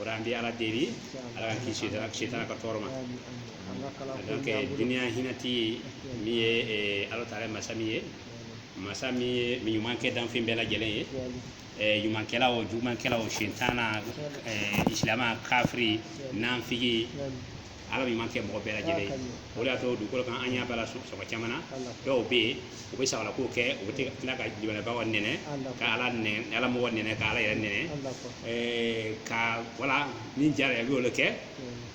o la an bɛ ala deli ala k'an kisi sitana ka tɔɔrɔ ma donc duniya hinɛtigi min ye eh, ala taala masa min ye masa min ye ɲuman kɛ danfɛn bɛɛ lajɛlen ye eh, ɲumankɛla o jugumankɛla o sitana eh, isilama kafiri nanfigi ala ɲuman kɛ mɔgɔ bɛɛ lajɛlen ye o de y'a to dugukolo kan an y'a bala sɔgɔ caman na dɔw bɛ yen u bɛ sago la ko kɛ u bɛ tila ka jibalabagaw nɛni ka ala nɛni ala mɔgɔ nɛni ka ala yɛrɛ nɛni ka wala min diyara i ye i b'o le kɛ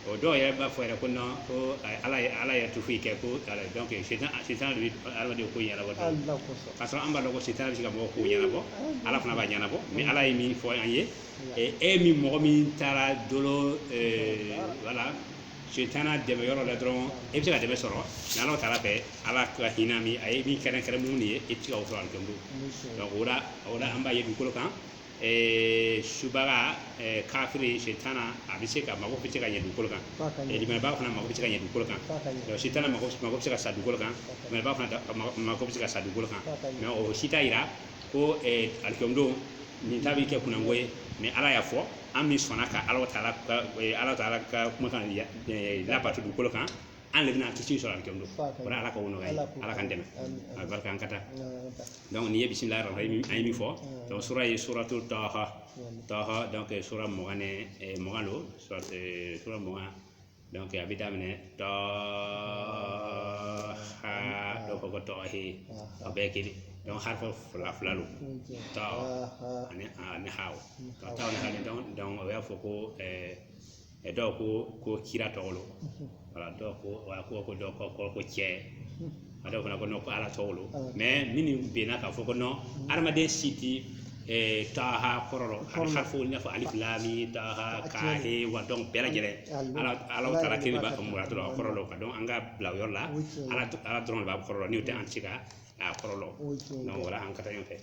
o dɔw yɛrɛ b'a fɔ yɛrɛ ko nɔn ko ala ye ala yɛrɛ tɛ foyi kɛ ko ala donc sitan sitan de bɛ adamaden ko ɲɛnabɔ parce que an b'a dɔn ko sitan bɛ se ka mɔgɔ ko ɲɛnabɔ ala fana b'a ɲɛnabɔ mɛ ala ye min fɔ an ye E min mɔgɔ min taara dolo wala sitan dɛmɛ yɔrɔ la dɔrɔn e bɛ se ka dɛmɛ sɔrɔ ala taala fɛ ala ka hinɛ min a ye min kɛrɛnkɛrɛn mumini de ye e t'o sɔrɔ alikiyama don donc o la an b'a ye dugukolo kan subaga kafiri sitan a bɛ se ka mako bɛ se ka ɲɛ dugukolo kan limaniyabaga fana mako bɛ se ka ɲɛ dugukolo kan sitan mako bɛ se ka sa dugukolo kan limaniyabaga fana mako bɛ se ka sa dugukolo kan mɛ o si t'a jira ko alikiyama don nin ta bɛ kɛ kunnango ye mɛ ala y'a fɔ an min sɔnna ka ala taala ka kumakan labato dugukolo kan an de bɛna kisi sɔrɔ alikiyama don wala ala k'o nɔgɔya ala k'an dɛmɛ a barika an ka taa donc nin ye bisimilahi rahmani rahim a ye min fɔ donc sura ye suratu taha taha donc sura mugan mugan don sura mugan a bɛ daminɛ taha dɔ ko ko ta he a bɛɛ kelen donc harafu fila fila don ta ani ha ta ani ha le donc o y'a fɔ ko ɛɛ dɔw ko ko kira tɔgɔ lo wala dɔw ko ko dɔw ko ko cɛ a dɔw fana ko ko ala tɔgɔ lo mɛ minnu bɛnna k'a fɔ ko non adamaden si tɛ taha kɔrɔ dɔn harafu i n'a fɔ alif lam taha ka he wa donc bɛɛ lajɛlen ala taala kelen b'a ka muradu kɔrɔ dɔn ka donc an k'a bila a yɔrɔ la ala ala dɔrɔn de b'a kɔrɔ dɔn n'o tɛ an tɛ se ka a kɔrɔ dɔn donc wala an ka taa ɲɔgɔn fɛ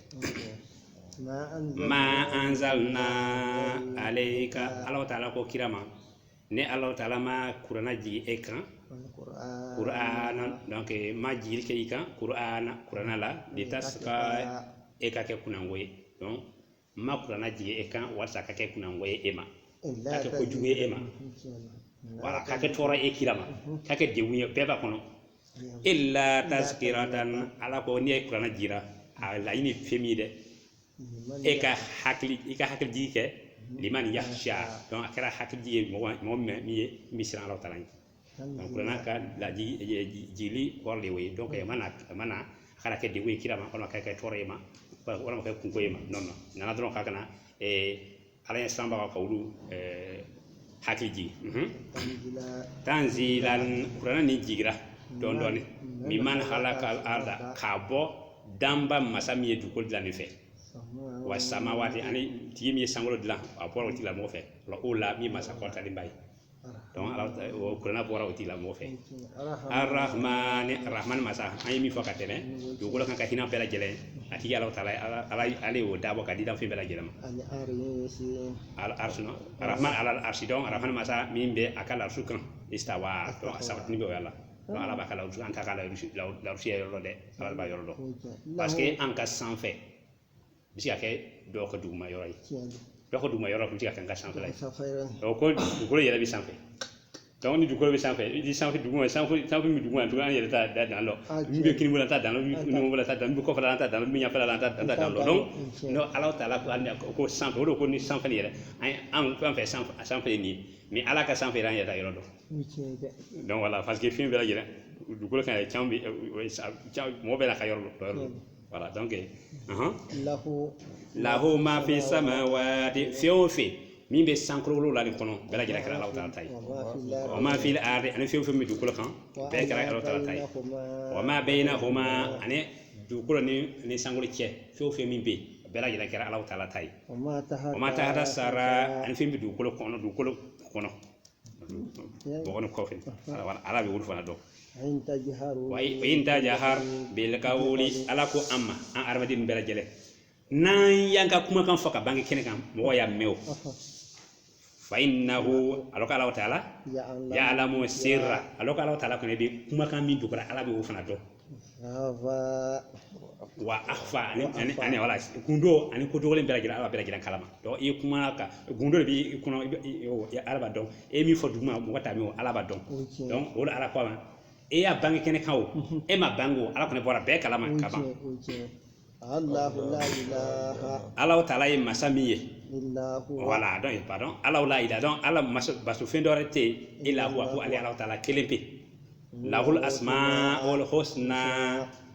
ma anzalna alayka ala taala ko kira ma ne ala taala ma kurana jigin e kan kurana donc ma jigili kɛ i kan kurana kurana litashqa e ka kɛ kunnango ye donc ma kurana jigin e kan walasa ka kɛ kunnango ye e ma ka kɛ kojugu ye e ma wala ka kɛ tɔɔrɔ e kira ma ka kɛ degun ye bɛɛ b'a kɔnɔ illa tazkiratan ala ko ni kurana jigira a laɲini fɛn min ye dɛ e ka hakili i ka hakili jigi kɛ liman yakhsha donc a kɛra hakili jigi ye mɔgɔ mɔgɔ min min ye min siran Alahu taala ɲɛ donc kuranɛ ka lajigili kɔrɔ de y'o ye donc a mana a mana a kana kɛ degun ye kira ma walima a kana kɛ tɔɔrɔ ye e ma walima a kana kɛ kunko ye e ma non non a nana dɔrɔn k'a kana Ala ɲɛsiranbaga ka olu ɛɛ hakili jigin tanzilan kuranɛ nin jigira dɔɔnin dɔɔnin mimman halaka arda k'a bɔ danba masa min ye dugukolo dilan nin fɛ wa samawati ani tigi min ye sankolo dilan a bɔra o tigilamɔgɔ fɛ ula min ye masa kɔrɔtalenba ye o kuranɛ bɔra o tigilamɔgɔ fɛ arahamani arahamani masa an ye min fɔ ka tɛmɛ dugukolo kan ka hinɛ bɛɛ lajɛlen a tigi ala taala ala ale y'o dabɔ ka di danfɛn bɛɛ lajɛlen ma ala arsina arahama ala arsi donc arahamani masa min bɛ a ka larusu kan istawa a sabatinin bɛ voilà ala b'a ka larusu an t'a ka larusu larusu yɔrɔ dɛ ala b'a yɔrɔ dɔn parce que an ka sanfɛ bɛ se ka kɛ dɔ ka duguma yɔrɔ ye dɔ ka duguma yɔrɔ bɛ se ka kɛ an ka sanfɛ ye ko dugukolo yɛrɛ bɛ sanfɛ donc ni dugukolo bɛ sanfɛ i ni sanfɛ duguma sanfɛ sanfɛ min duguma duguma an yɛrɛ t'a da dan lɔn min bɛ kinibolo t'a dan numanbolo t'a dan min kɔfɛ an t'a dan min ɲɛfɛ an t'a dan dan lɔn donc n'o ala taala ko ko sanfɛ o de ko ni sanfɛ yɛrɛ an an fɛn fɛn sanfɛ sanfɛ ye nin ye ni ala ka sanfɛ an yɛrɛ yɔrɔ dɔn donc voilà parce que fɛn bɛɛ lajɛlen dugukolo kan yɛrɛ caman bɛ mɔgɔ bɛɛ la ka yɔrɔ dɔn Voilà, donc, uh-huh. lahu lahu ma fi samawati fɛn o fɛn min bɛ sankolo wolonwula de kɔnɔ bɛɛ lajɛlen kɛra Alahu taala ta ye wa ma fi la wa ma fil ardi ani fɛn o fɛn bɛ dugukolo kan bɛɛ kɛra Alahu taala ta ye wa ma bainahuma ani dugukolo ni ni sankolo cɛ fɛn o fɛn min bɛ yen bɛɛ lajɛlen kɛra Alahu taala ta ye wa ma taha wa ma tahata sara ani fɛn bɛ dugukolo kɔnɔ dugukolo kɔnɔ bɔgɔ nin kɔfɛ ala bɛ olu fana dɔn wa in tajahar bil qawli ala ko amma an adamaden bɛɛ lajɛlen n'an y'an ka kumakan fɔ k'a bange kɛnɛ kan mɔgɔ y'a mɛn o fa innahu ala k'ala taala yaalamu sirra ala k'ala taala kɔni bɛ kumakan min dogora ala bɛ o fana dɔn wa akhfa ani ani ani wala gundo ani ko dogolen bɛɛ lajɛlen ala bɛɛ lajɛlen kalama donc i kuma ka gundo de b'i kɔnɔ i bɛ ala b'a dɔn e ye min fɔ duguma mɔgɔ t'a mɛn o ala b'a dɔn donc o de ala ko amma e y'a bange kɛnɛ kan o e m'a bange o ala kɔni bɔra bɛɛ kalama ka ban Alahu taala ye masa min ye voilà donc pardon ala la ilaha donc ala batofɛn dɔwɛrɛ tɛ yen ila huwa fo ale ala taala kelen pe lahul asmaul husna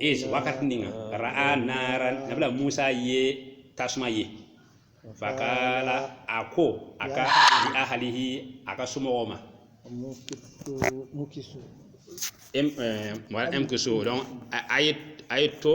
iz wakati nin kan ra'a naran nabila musa ye tasuma ye fakala a ko a ka li ahalihi a ka somɔgɔw ma em eh, mɔgɔ umkusu donc a a ye a ye to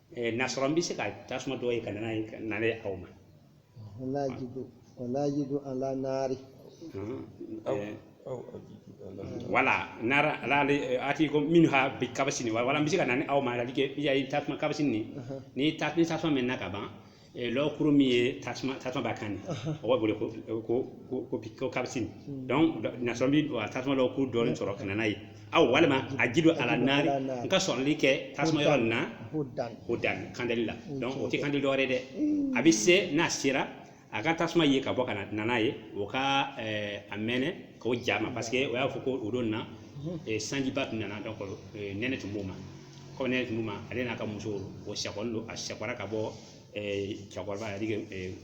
Eh, n'a sɔrɔ n bɛ se ka tasuma dɔ ye ka na n'a ye ka na n'a ye aw ma wala ajidu wala ajidu ala naari Mhm. aw Eh, aw ajidu ala voilà naara la ali atikum minha bi kabasini voilà n bɛ se ka na n'a ye aw ma ala ke ya ye tasuma kabasini ni ni ta ni tasuma mɛnna ka ban lɔgɔkuru min ye tasuma tasuma b'a kan o bɛ wele ko ko ko ko kabasini donc n'a sɔrɔ n bɛ a tasuma lɔgɔkuru dɔ sɔrɔ ka na n'a ye aw walima ajidu ala naari n ka sɔrɔli kɛ tasuma yɔrɔ nin na hudan kandalila o tɛ kandali dɔwɛrɛ dɛ a bɛ se n'a sera a ka tasuma ye ka bɔ ka na n'a ye o ka a mɛnɛ k'o ja ma parce que o y'a fɔ ko o don na sanjiba tun nana donc nɛnɛ tun b'o ma ko nɛnɛ tun b'o ma ale n'a ka muso o sekɔlen don a sekɔra ka bɔ cɛkɔrɔba yɛrɛ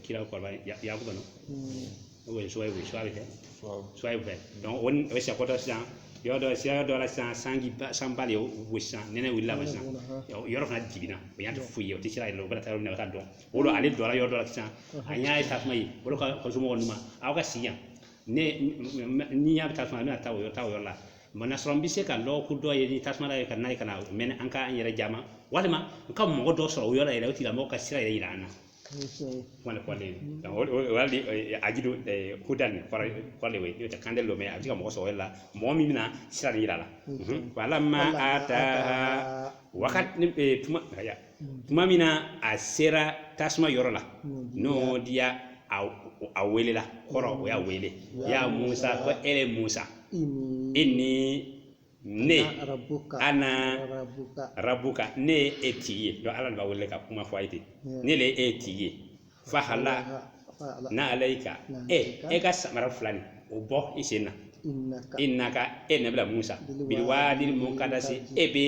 kira kɔrɔba ya kɔnɔ o ye suya ye suwayibu kɛ suwayibu fɛ o ni o sekɔtɔ sisan yɔrɔ dɔ sira dɔ la sisan sanji ba sanba de y'o gosi sisan nɛnɛ wulila ka sisan yɔrɔ fana dibira o ɲa tɛ foyi ye o tɛ sira yɛrɛ lɔn o bɛ taa yɔrɔ min na ka dɔn o don ale lɔra yɔrɔ dɔ la sisan a ɲa ye tasuma ye o de ko a somɔgɔw ma aw ka sigi yan ne ɲa bɛ tasuma na n bɛna taa o yɔrɔ ta o yɔrɔ la mana sɔrɔ n bɛ se ka lɔgɔkuru dɔ ye ni tasuma ye ka n'a ye ka n'a mɛnɛ an ka an yɛrɛ ja a ma walima n ka mɔgɔ dɔ sɔrɔ o yɔrɔ la yɛrɛ o tigilamɔgɔ ka sira yɛrɛ yira an na wani kɔlen o yali ajidu hudan kɔrɔ kɔle we yo ta kande lo me a bɛ se ka mɔgɔ sɔrɔ la mɔgɔ min bɛna sira yira a la falama ataha wakati ni tuma tuma min na a sera tasuma yɔrɔ la nudiya a welela kɔrɔ o y'a wele ya musa ko e le musa inni ne ana rabuka ne ye e tigi ye donc ala le b'a wele ka kuma fɔ a ye ten ne le ye e tigi ye fahala fahala na alayika Na e alayika. e ka samara fila nin o bɔ i sen na innaka innaka e nabila musa Biliwaadi biliwaadi mukadasi e bɛ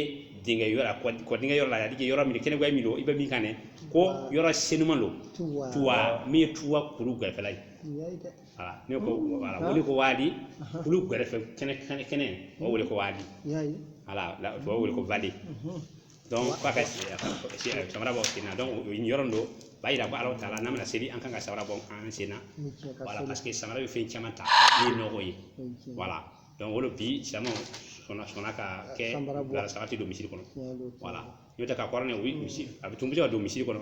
dingɛ yɔrɔ la kɔ- kɔ dingɛ yɔrɔ la yadi yɔrɔ min kɛnɛ min don i bɛ min kan dɛ ko yɔrɔ senuma don tuwa tuwa min ye tuwa kuru gɛrɛfɛla ye tuwa ye dɛ wala ne ko wala o wele ko waadi kulu gɛrɛfɛ kɛnɛ kɛnɛ kɛnɛ o wele ko waadi y'a ye wala la- o wele ko vallée donc k'a ka siyɛ samara bɔ sen na donc yɔrɔ nin dɔ b'a yira ko Alahu taala n'an bɛna seli an ka kan ka samara bɔ an sen na voilà parce que samara bɛ fɛn caman ta min ye nɔgɔ ye voilà donc o de bi silamɛw sɔnna sɔnna ka kɛ samara tɛ don misiri kɔnɔ voilà n'o tɛ kakɔrɔ n'a ye o bɛ misi a bɛ tun bɛ se ka don misiri kɔnɔ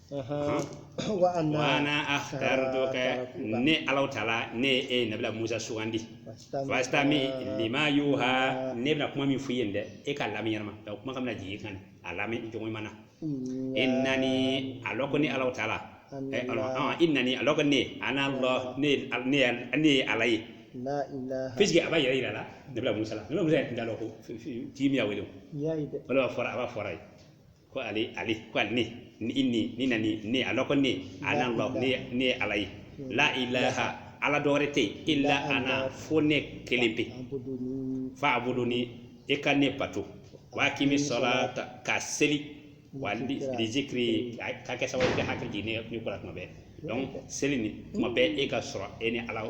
wa ana akhtartuka ne Alahu taala ne ye e nabila musa sugandi fastami lima yuha ne bɛna kuma min f'i ye dɛ e k'a lamɛn ɲɛnama n ka kuma kan bɛna jigin i kan a lamɛn cogo ɲuman na innani a lɔn ko ne Alahu taala innani a lɔn ko ne ana Alahu ne ne ye ala ye puisque a b'a yɛrɛ yira la nabila musa la nabila musa yɛrɛ tun t'a lɔn ko tigi min y'a wele o voilà a b'a fɔra a ye ko ale ale ko ale ne ni inni innani ne a lɔn ko ne ana ala ne ne ye ala ye la ilaha ala dɔ wɛrɛ tɛ yen illa ana fo ne kelen pe fa abuduni e ka ne bato wa akimi sɔlata ka seli wa li li zikiri ka kɛ sababu ye ka hakili jigin ne ne ko la tuma bɛɛ donc seli nin tuma bɛɛ e ka sɔrɔ e ni ala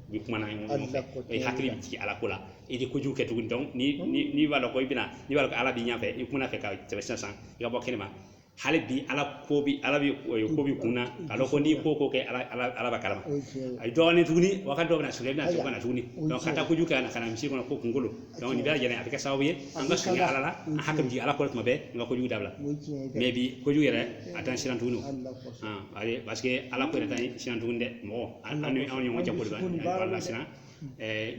u bɛ kuma na ɲɔgɔn Hali fɛ na ko i tɛ hakili bɛ jigin ala ko la i tɛ kojugu kɛ tuguni donc ni ni n'i b'a dɔn ko i bɛna n'i b'a dɔn ko ala b'i ɲɛfɛ i kunna fɛ ka tɛmɛ sisan sisan i ka bɔ kɛnɛma hali bi ala ko bi ala bi eh, ko b'i kun na k'a dɔn ko n'i ko ko kɛ ala ala ala b'a kalama o ye tiɲɛ ye a ye dɔɔnin tuguni wagati dɔ bɛna sɔrɔ i bɛna sɔrɔ ka na tuguni Ayiwa, o ye donc ka taa tiɲɛ ye. kojugu kɛ ani ka na misiri kɔnɔ ko kunkolo donc nin bɛɛ lajɛlen a bɛ kɛ sababu ye an ka surunya ala la an hakili jigin ala ko la tuma bɛɛ an ka kojugu dabila o ye tiɲɛ ye dɛ. mais bi kojugu yɛrɛ a t'an siran tuguni o. Hali na ko paseke ala ko yɛrɛ t'an siran tugun dɛ mɔgɔ an ni anw ni ɲɔgɔn cɛ ko b'an lasiran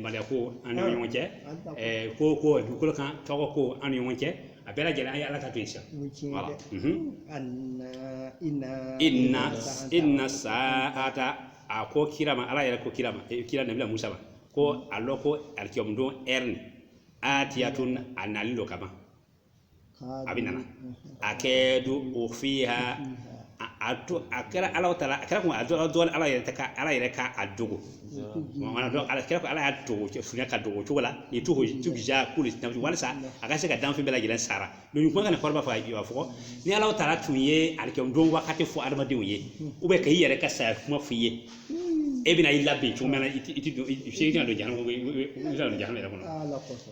maloya ko an ni ɲɔgɔn cɛ ko ko dugukolo kan tɔgɔ ko an ni ɲɔgɔn cɛ a bɛɛ lajɛlen an ye ala ta to yen sa inna saata a ko kira ma ala yɛrɛ ko kira ma kira nabila musa ma ko a lɔn ko alikiyama don yɛrɛ atiyatun a nalen lo kaban a bɛna na akadu ukufiha a to a kɛra ala taala a kɛra ko a dɔn dɔn ala yɛrɛ ka ala yɛrɛ ka a dogo mana dɔn ala kɛra ko ala y'a dogo fiɲɛ ka dogo cogo la litujiza kulu nafsin walasa a ka se ka danfɛn bɛɛ lajɛlen sara don kuma kana kɔrɔba fɔ a jiba fɔ ni ala taala tun ye alikiyama don wagati fɔ adamadenw ye ou bien ka i yɛrɛ ka saya kuma f'i ye e bɛna i labɛn cogo min na i tɛ don i tɛna don jahanama i tɛna don jahanama yɛrɛ kɔnɔ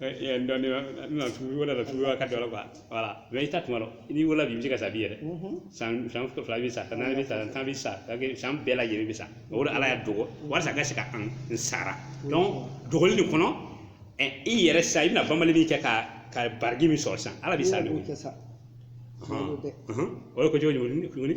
dɔɔni na tugu wala la tugu ka dɔ la voilà mais i t'a tuma lɔn n'i wala bi bɛ se ka sa bi yɛrɛ san san fila bɛ sa naani bɛ sa tan bɛ sa san bɛɛ lajɛlen bɛ sa o de ala y'a dogo walasa ka se ka an n sara dogoli nin kɔnɔ i yɛrɛ sa i bɛna banbali min kɛ ka ka baraji min sɔrɔ san ala b'i sara o ye ko cogo tuguni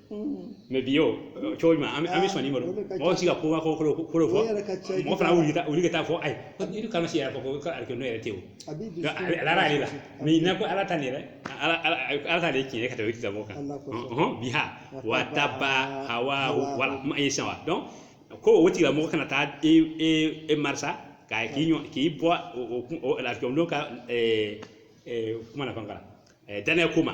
mais bi o cogo jumɛn an bɛ an bɛ sɔnni balo mɔgɔ si ka ko kolo kolo kolo fɔ mɔgɔ fana wuli ka wuli ka taa fɔ ayi yiri kana si yɛrɛ fɔ ko ka alikiyama yɛrɛ tɛ o ala ale la mɛ ɲinɛ ko ala ta nin yɛrɛ ala ala ta de tiɲɛ ka tɛmɛ kitabu kan biha wataba hawa wala kuma ye san wa donc ko o tigilamɔgɔ kana taa e e e marisa k'a k'i ɲɔ k'i bɔ o lafiya ka kuma na fana danaya ko ma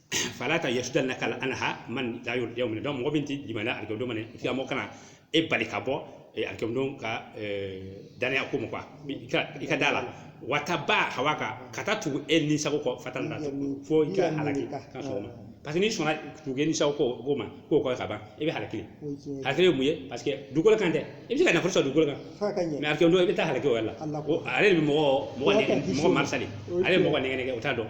fala ta yasudannaka anha man la yuuminu donc mɔgɔ min ti limaniya alikiyama don ma nin tigi mɔgɔ kana e bali ka bɔ e alikiyama don ka danaya ko ma quoi i ka da a la wataba hawa ka ka taa tugu e ni sago kɔ fatarda fo i ka halaki ka sɔgɔma parce que n'i sɔnna tugu e ni sago kɔ ko ma ko kɔ ka ban i bɛ halaki halaki ye mun ye parce que dugukolo kan tɛ i bɛ se ka nafolo sɔrɔ dugukolo kan mais alikiyama don i bɛ taa halaki o yɛrɛ la ale de bɛ mɔgɔ mɔgɔ mɔgɔ marisali ale bɛ mɔgɔ nɛgɛ nɛgɛ o t'a dɔn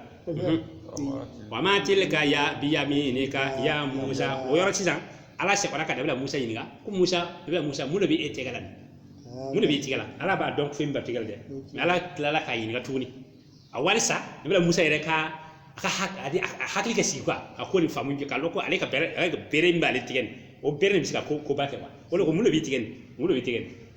wa ma tilka biyaminika ya musa o yɔrɔ sisan ala sera ka nabila musa ɲininka ko musa nabila musa mun de bɛ e tɛgɛ la mun de bɛ e tɛgɛ la ala b'a dɔn fɛn min b'a tɛgɛ la dɛ mais ala tilala k'a ɲininka tuguni walisa nabila musa yɛrɛ ka a ka hakili kɛ sigi quoi a ko nin faamu k'a dɔn ko ale ka bere bere min b'ale tigɛ nin o bere de bɛ se ka ko koba kɛ wa o de ko mun de b'i tigɛ nin mun de b'i tigɛ nin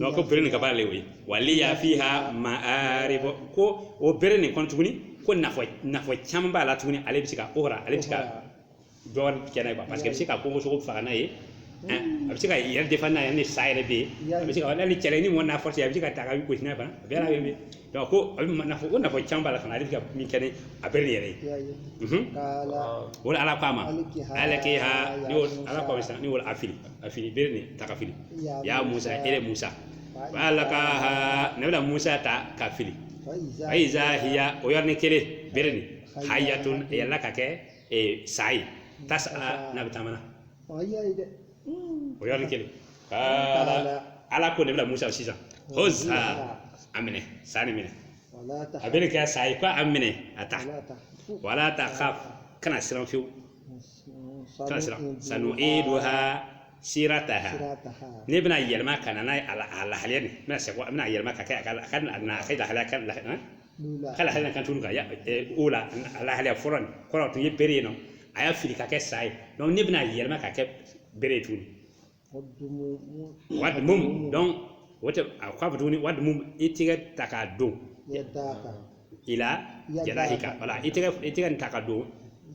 donc ko bere nin ka baara le ye waliya fiha maaribu ko o bere nin kɔnɔ tuguni ko nafa nafa caman b'a la tuguni ale bɛ se ka ukhra ale bɛ se ka dɔ wɛrɛ kɛ n'a ye parce que a bɛ se ka kungo sogow faga n'a ye a bɛ se ka yɛrɛ défense n'a ye ni sa yɛrɛ bɛ yen a bɛ se ka hali cɛ ni mɔgɔ n'a forcé a bɛ se k'a ta k'a gosi n'a ye fana a bɛɛ n'a bɛ donc ko nafa caman b'a la fana a bɛ se ka min kɛ ni a bere nin yɛrɛ ye ya ye Mhm. kala o la ala ko a ma Alikiha alikiha ya ni o Musa. ala ko a ma sisan ni o a fili a fili bere nin ta k'a fili Ya ya musa Musa. ele musa Fa alkaha nabila musa ta k'a fili faiza ayiza hiya o yɔrɔnin kelen bere nin Hayya. hayatun yɛlɛma ka kɛ eh, sa ye tas'a n'a bɛ taamana faiza o yɔrɔnin kelen ala ko nabila musa sisan khuzha a minɛ sa nin minɛ a bere kɛ sa ye ko a minɛ a ta wala takhaf kana siran fiyewu kana siran sanu'iduha sirataha ne bɛn'a yɛlɛma ka na n'a ye a lahalaya nin bɛna segin a bɛna yɛlɛma ka kɛ a ka a ka na a ka lahalaya ka k'a lahala kan tuguni al ula a lahalaya fɔlɔ nin kɔrɔ tun ye bere ye nɔ a y'a fili ka kɛ sa ye donc ne bɛn'a yɛlɛma k'a kɛ bere ye tuguni wadmum donc o tɛ a k'a fɔ tuguni wadmum i tɛgɛ ta k'a don ila janahika wala i tɛgɛ i tɛgɛ nin ta k'a don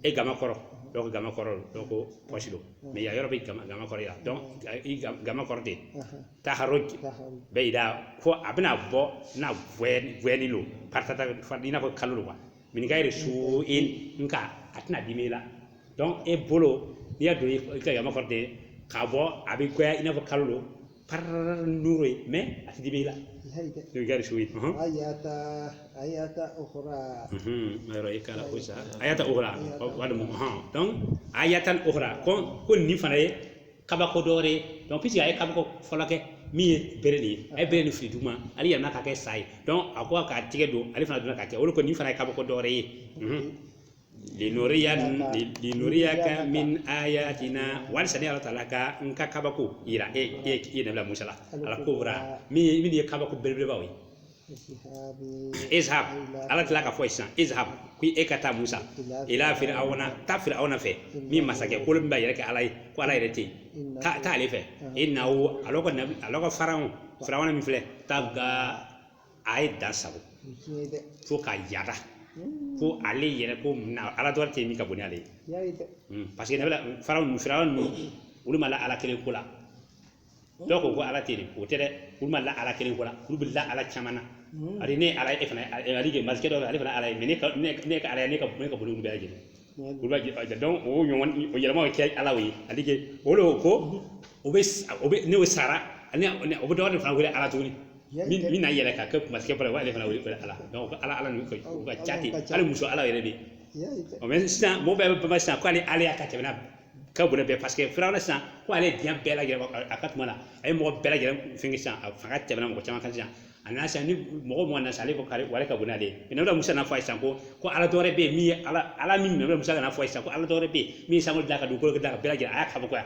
e gama kɔrɔ donc gama kɔrɔ donc pɔsi lo mais ya yɔrɔ bɛ gama gama kɔrɔ ya donc i gama kɔrɔ de takhruj baida ko a bɛna bɔ n'a gwɛnin lo paratata i n'a fɔ kalo lo wa min gayri su'in nka a tɛna dimi i la donc e bolo n'i y'a don i ka gama kɔrɔ de k'a bɔ a bɛ gwɛya i n'a fɔ kalo lo pararara nooro ye mais a tɛ dimi i la min gayri su'in ayata ayatan ukhra yɔrɔ i kala ko sa ayatan ukhra walima donc ayatan ukhra ko ko nin fana ye kabako dɔ wɛrɛ ye donc puisque a ye kabako fɔlɔ kɛ min ye bere nin ye a ye bere nin fili duguma ale yɛlɛma ka kɛ sa ye donc a ko k'a tigɛ don ale fana donna ka kɛ o la ko nin fana ye kabako dɔ wɛrɛ ye linuriya linuriyaka min ayatina walisa ne ala taala ka n ka kabako yira e e e nabila musa la al kubra minnu ye kabako belebelebaw ye izhab ala tila ka fɔ sisan izhab ko e ka taa musa ila fir'auna taa fir'auna fɛ min masakɛ kolon min b'a yɛrɛ kɛ ala ye ko ala yɛrɛ tɛ yen taa taa ale fɛ innahu ala ko nabi ala ko fara fir'auna min filɛ taga a ye dan sagon fo ka yada fo ale yɛrɛ ko na ala dɔwɛrɛ tɛ min ka bon ni ale ye parce que nabi faraw ninnu fir'auna ninnu olu ma la ala kelen ko la donc ko ala tɛ yen o tɛ dɛ olu ma la ala kelen ko la olu bɛ la ala caman na ani ne ala e fana ale de masakɛ dɔ ale fana ala ye mɛ ne ka ne ka ala ye ne ka ne ka boli bɛɛ lajɛlen olu b'a jɛ donc o ɲɔgɔn o yɛlɛmaw kɛ ala ye ale de o de ko o bɛ o bɛ ni o sara ani o bɛ dɔgɔ de fana wele ala tuguni min min na yɛlɛ ka kɛ masakɛ fana ale fana wele ala donc ala ala ninnu ka u ka ca ten hali muso ala yɛrɛ de ɔ mɛ sisan mɔgɔ bɛɛ bɛ bama sisan k'ale alaya ka tɛmɛna ka bon n'a bɛɛ paseke firawuna sisan ko ale diɲɛ bɛɛ lajɛlen a ka kuma la a ye mɔgɔ bɛɛ lajɛlen fɛn sisan a fanga tɛmɛna mɔgɔ caman kan sisan a nana sisan ni mɔgɔ mɔgɔ nana sisan ale ko k'ala wɛrɛ ka bon n'ale ye mɛ nabila musa n'a fɔ sisan ko ko ala dɔwɛrɛ bɛ yen min ye ala ala min mɛ musa ka n'a fɔ sisan ko ala dɔwɛrɛ bɛ yen min ye sankolo dilan ka dugukolo dilan ka bɛɛ lajɛlen a y'a kabako yan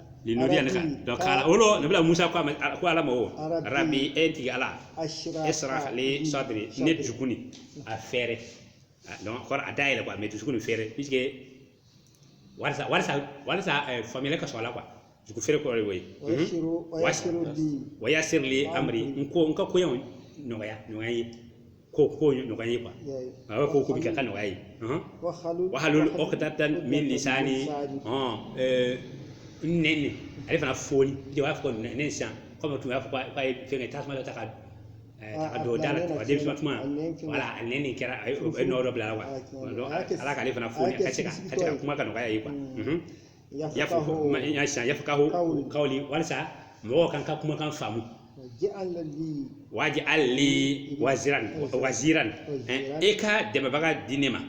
nin nɔdi yan ne kan donc kala o lo nabila musa ko ko ala ma o rabi e n tigi ala isira li sadiri ne dusukun nin a fɛrɛ donc kɔrɔ a da yɛlɛ quoi mais dusukun nin fɛrɛ puisque walisa walisa walisa eh, faamuyali ka sɔrɔ a la quoi dusukun fɛrɛ kɔrɔ de y'o ye wa yasirili amri n ko n ka koɲɛw nɔgɔya nɔgɔya ye ko ko nɔgɔya n ye kuwa a b'a fɔ ko bɛɛ ka nɔgɔya n ye wahalul ɔkidatan min lisani ɔn ɛɛ nɛn nin ale fana foni i b'a fɔ ko nɛn nin sisan kɔmi tun y'a fɔ k'a ye fɛnkɛ tasuma dɔ ta ka ɛɛ, ta ka don da la a den tuma o la a nɛn nin kɛra a ye o ye nɔ dɔ bila a la wa Ala k'ale fana foni a ka se ka ka se ka kuma ka nɔgɔya ye kuwa yafakahu kawli walisa mɔgɔw ka n ka kumakan faamu waji ali waziran waziran e ka dɛmɛbaga di ne ma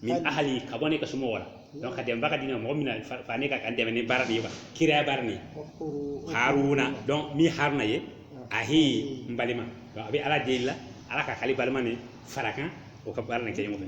min ahali ka bɔ ne ka somɔgɔw la donc ka dɛmɛbaga di ne ma mɔgɔ min na fara ne kan ka n dɛmɛ ni baara nin ye kiraya baara nin ye haruna donc min haruna ye ahi n balima donc a bɛ ala deli la ala ka k'ale balima nin fara a kan u ka baara nin kɛ ɲɔgɔn fɛ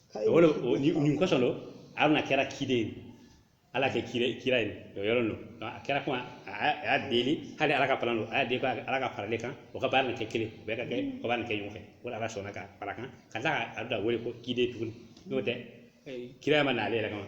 o la nin kɔsɔn don aruna kɛra kiden ye ala kɛ kira kira ye o yɔrɔ don a kɛra kuma a y'a deli hali ala ka plan don a y'a deli ala ka fara ale kan u ka baara nin kɛ kelen bɛɛ ka kɛ ka baara nin kɛ ɲɔgɔn fɛ o la ala sɔnna k'a fara a kan ka taa a da wele ko kiden tuguni n'o tɛ kiraya ma na ale yɛrɛ kama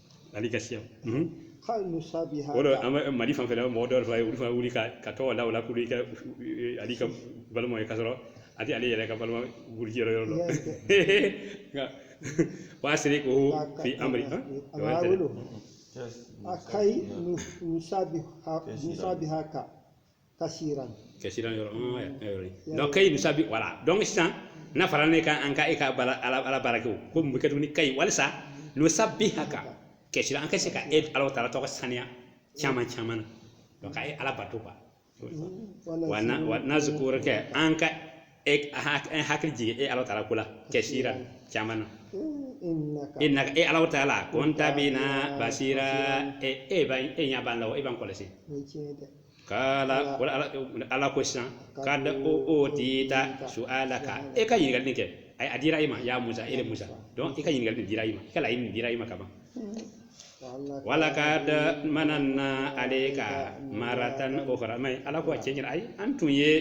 ale ka siya kayi nusabiha o don an bɛ mali fan fɛ mɔgɔ dɔw fana ye olu fana wuli ka ka tɔgɔ la o la k'olu i ka ale ka balima ye ka sɔrɔ a tɛ ale yɛrɛ ka balima buruju yɔrɔ yɔrɔ dɔn wasiriku fi amiri kayi nusabiha nusabihaka kasiran kasiran yɔrɔ mm, eh, eh, yɔrɔ ye. donc kayi nusabi voilà donc sisan n'a fɔra ne ka an ka e ka bala ala ala baara kɛ o ko mun bɛ kɛ tuguni kayi walisa nusabihaka kasiran an ka se ka e ala taala tɔgɔ saniya caman caman na donc ka e ala bato quoi wa na wa nazukuraka an ka e an hakili jigin e ala taala ko la kasiran caman na innaka e ala taala kunta bina basira e e ba e ɲɛ b'an la e b'an kɔlɔsi kala ala ko sisan kada u utita suulaka e ka ɲininkali kɛ a dira i ma ya musa e de musa donc i ka ɲininkali dira i ma i ka laɲini dira i ma kaban walakada manana alayika maratan ukhura mais ala ko tiɲɛ na ayi an tun ye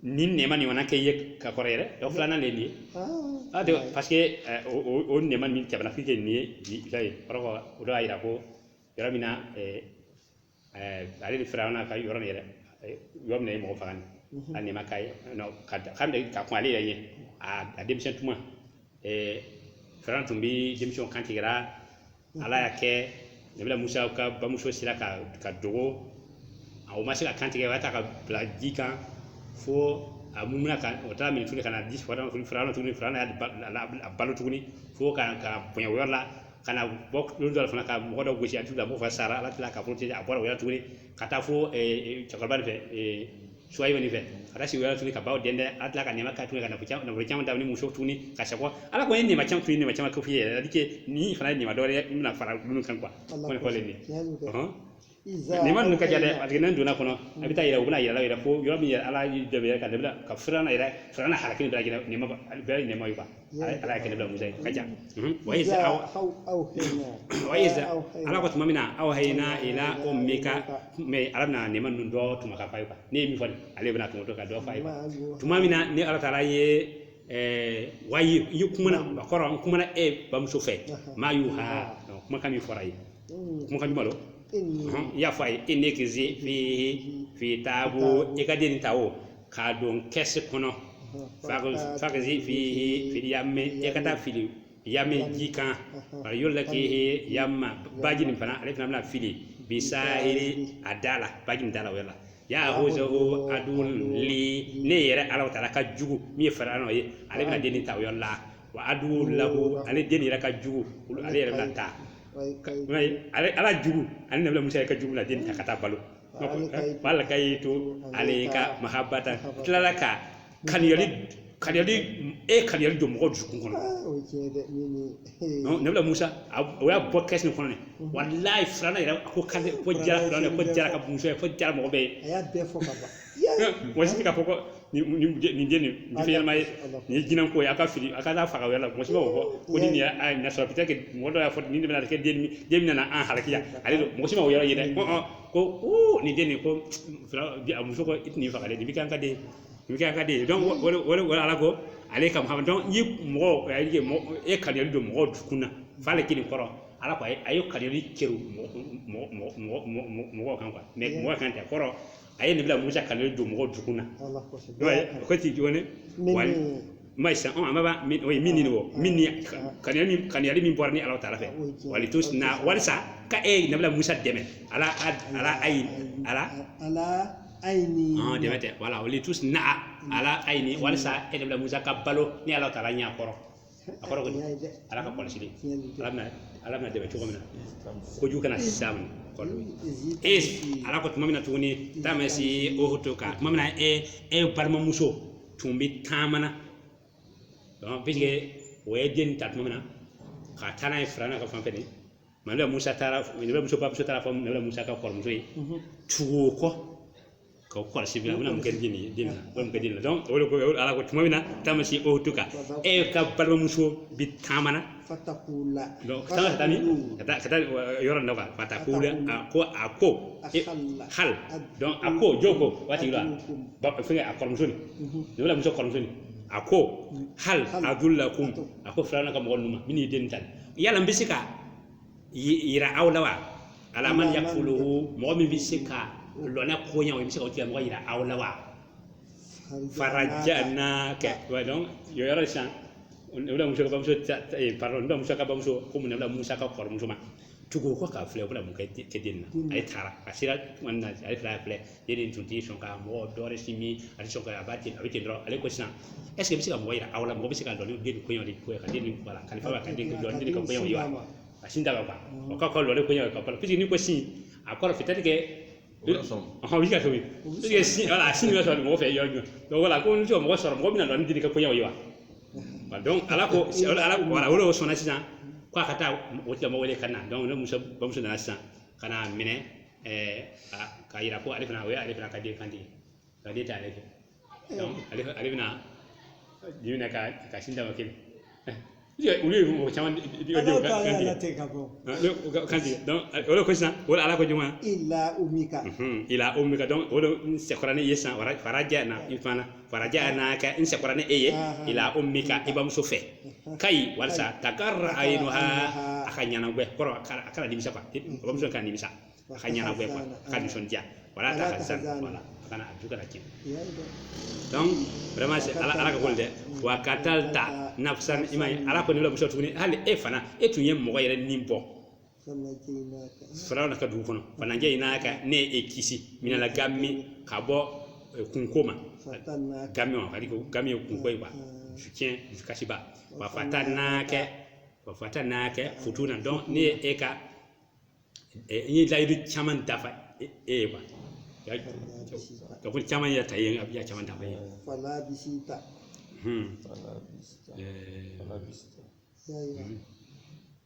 ni nɛɛma nin fana kɛ i ye ka kɔrɔ yɛrɛ o filanan de ye nin ye ah, ah, parce que eh, o nɛɛma min tɛmɛna k'i kɛ nin ye bi ka ye kɔrɔ o dɔ y'a jira ko yɔrɔ min na eh, eh, ale de firawuna ka yɔrɔ nin yɛrɛ yɔrɔ min na a ye mɔgɔ faga nin mhm. a nɛɛma ka ye ka ka kuma ale yɛrɛ ye a denmisɛn tuma firawuna tun bɛ denmisɛnw kantigɛ la ala y'a kɛ nabila musa ka bamuso sera ka a dogo a o ma se k'a kantigɛ ka taa k'a bila ji kan fo a mumina ka o taara minɛ tuguni ka na di firawuna y'a balo tuguni fo ka ka bonya o yɔrɔ la ka na bɔ don dɔ fana ka mɔgɔ dɔ gosi a tigi la mɔgɔ fana sara ala tila k'a protéger a bɔra o yɔrɔ tuguni ka taa fo cɛkɔrɔba de fɛ suwayibu nin fɛ ka taa sigi o yɔrɔ la tuguni ka baw dɛndɛ ala tila ka nɛma ka tuguni ka nafolo caman nafolo caman d'a ma ni muso tuguni ka sakɔ ala kɔni ye nɛma caman tuguni nɛma caman kɛ f'i ye yɛrɛ dike ni fana ye nɛma dɔ wɛrɛ bɛna fara minnu kan quoi kɔni fɔlen de nɛma ninnu ka ca dɛ parce que n'an donna a kɔnɔ a bɛ taa yira u bɛna yɛlɛ yɛrɛ fo yɔrɔ min yɛrɛ ala dɛmɛ ka dɛmɛ ka firawuna yɛrɛ firawuna halaki bɛɛ lajɛlen nɛma bɛɛ ye nɛma ye quoi ala kɛ nabila musa ye ka ca wa iza aw aw awhayina wa iza awhayina ala ko tuma min na awhayina ila ummika mais ala bɛna nɛma ninnu dɔ tuma ka f'a ye ne ye min fɔ ale bɛna tuma dɔ ka dɔ f'a ye tuma min na ne ala taala ye ɛɛ wahayi kumana a kɔrɔ n kumana e bamuso fɛ ma yuha kumakan min fɔra ye kumakan jumɛn don inni i y'a fɔ a ye inikizifi fi taabu i ka den nin ta o k'a don kɛsu kɔnɔ fakizifi fili yamme e ka taa fili yamme ji kan o yɔrɔ la k'i yamma baji nin fana ale fana bɛn'a fili bisahili a da la baji nin da la o yɔrɔ la yahuzuhu aduwun li ne yɛrɛ ala taala ka jugu min ye firawuna ye ale bɛna den nin ta o yɔrɔ la wa aduwun lahu ale den yɛrɛ ka jugu olu ale yɛrɛ bɛn'a ta i m'a ye ale ala jugu ani nabila musa yɛrɛ ka jugu bɛna den nin ta ka t'a balo wa alkayitu alayika mahabatan Mahaba. tilala ka kaniyali kaniyali e ye kaniyali don mɔgɔ dusukun kɔnɔ Ah, o ye tiɲɛ ye dɛ minni Non, nabila musa a- o y'a bɔ kɛsi nin kɔnɔ ne walayi firawuna yɛrɛ a ko kale ko diyara firawuna ko diyara a ka muso ye ko diyara mɔgɔ bɛɛ ye a bɛɛ fɔ ka ban ye mɔgɔ si ka fɔ ko ni ni ni den nin finman ye nin ye jinɛ ko ye a ka fili a ka faga wala mɔgɔ si ma fɔ ko ni y'a ɲɛ sɔrɔ bi kɛ mɔgɔ dɔ y'a fɔ ni bɛna kɛ den min na an halaki ale don mɔgɔ si ma yɔrɔ ye dɛ ko nin den nin ko muso i tun faga de bɛ ka ka den i bɛ ka den donc ala ko ale ka dɔn ye mɔgɔ e kaniyali don mɔgɔ dusukun na f'ale kelen kɔrɔ ala ko a ye kaniyali kɛ mɔgɔ kan mais mɔgɔ kan tɛ kɔrɔ a ye nabila musa kanu don mɔgɔ dusukun na Allah kosɛbɛ. i b'a ye ko ti jɔn ne Min wa ni- ni- ma sisan ɔn an b'a min o ye minni o minni kaniyali min kaniyali min bɔra ne ala taala fɛ O ye tiɲɛ. walitusna'a walisa ka e ye nabila musa dɛmɛ ala a- ala ayi ala Ala ayini. ɔn dɛmɛ tɛ wala walitusna'a ala ayini walisa e nabila musa ka balo ne ala taala ɲɛ kɔrɔ a kɔrɔ ko ne ala ka kɔlɔsili ala bɛna ala bɛna dɛmɛ cogo min na kojugu kana s'a ma kɔlɔ e ala ko tuma min na tuguni tamsi uhutuka tuma min na e e balimamuso tun bɛ taamana donc puisque o ye den ta tuma min na ka taa n'a ye firawuna ka fan fɛ de mɛ nabila musa taara nabila musa bamuso taara fɔ nabila musa ka kɔrɔmuso ye tugu o kɔ ka kɔlɔsi bila u bɛna mun kɛ den ye den na o mun kɛ den na o de ko ala ko tuma min na tamsi uhutuka e ka balimamuso bi taamana ka taa ka taa min ka taa ka taa yɔrɔ dɔ kan fatakulu a ko a ko hal donc a ko jɔ ko waati la fɛngɛ a kɔrɔmuso ni nabila musa kɔrɔmuso ni a ko hal adulukum a ko firawuna ka mɔgɔ ninnu ma min ye den ta yala n bɛ se ka jira aw la wa ala man yakfuluhu mɔgɔ min bɛ se ka lɔ n'a koɲa n bɛ se ka o tigi mɔgɔ jira aw la wa farajanaka wa donc yɔ yɔrɔ sisan nabila musa ka bamuso pardon nabila musa ka bamuso ko mun nabila musa ka kɔrɔmuso ma tugu o kɔ k'a filɛ o bɛna mun kɛ den na a ye taara a sera tuma min na a y'a filɛ filɛ e den tun tɛ sɔn ka mɔgɔ dɔ wɛrɛ sin min a tɛ sɔn ka a b'a ten a bɛ ten dɔrɔn ale ko sisan ɛseke n bɛ se ka mɔgɔ yira aw la mɔgɔ bɛ se ka lɔ ni den nin koɲa di ko ka den ni bɔ a la kalifa b'a ka den lɔ ni den ka koɲa ye wa a sin da ka ban o ka kɔlɔlɔ de koɲa ka ban piseke ni ko sin a kɔrɔ fitɛli kɛ ɔhɔn o bɛ ka tobi pisike sin wala a sin bɛ sɔrɔ mɔgɔ fɛ yɔrɔ jumɛn donc wala ko n tɛ mɔgɔ sɔrɔ mɔgɔ bɛna lɔ ni den ka koɲa ye wa donc ala ko ala wala o de sɔnna sisan k'a ka taa o tigi mɔgɔ wele ka na donc nabila musa bamuso nana sisan ka n'a minɛ ka yira ko ale fana o ye ale fana ka den kan de ye ka den ta ale fɛ ale ale bɛna den minɛ ka ka sin d'a ma kelen olu ye mɔgɔ caman di ka denw kan de tɛ ka bɔ kan de o de ko sisan o de ala ko jama ila ummika donc o de sekɔra n'e ye san wɛrɛ faraja na i fana farajanaka n sekɔra ni e ye ila ummika i bamuso fɛ kai walisa takarra ainuha a ka ɲɛnagwɛ kɔrɔ a kana nimisa quoi i bamuso kana nimisa a ka ɲɛnagwɛ quoi a ka nisɔndiya wala tahzan wala a kana a jusu kana tiɲɛ donc vraiment c'est ala ala ka ko dɛ wa katalta nafsan ima ala ko ne la muso tuguni hali e fana e tun ye mɔgɔ yɛrɛ ni bɔ firawuna ka dugu kɔnɔ fanajaynaka ne ye e kisi minal gami ka bɔ eh, kunko ma gami ma kadi ko gami ye kunko ye ba fiɲɛ dusukasiba wa fatanaka wa fatanaka futuna donc ne ye e ka eh, n ye layidu caman dafa e e ye quoi ka ko caman yɛrɛ ta ye n y'a caman dafa ye Hmm. Eh,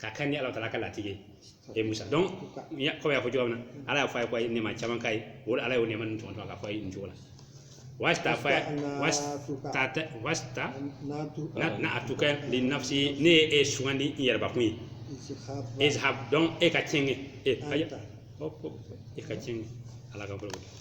ka kɛɲɛ ni ala taala ka latigɛ ye e musa donc kɔmi n y'a fɔ cogo min na ala y'a fɔ a ye ko a ye nɛma caman k'a ye o de ala y'o nɛma nin tɔgɔ dɔn k'a fɔ a ye nin cogo la wasta fa wasta wastanaatuka linafsi ne ye e sugandi n yɛrɛbakun ye izhab donc e ka tiɲɛ kɛ e ka tiɲɛ ala ka bolo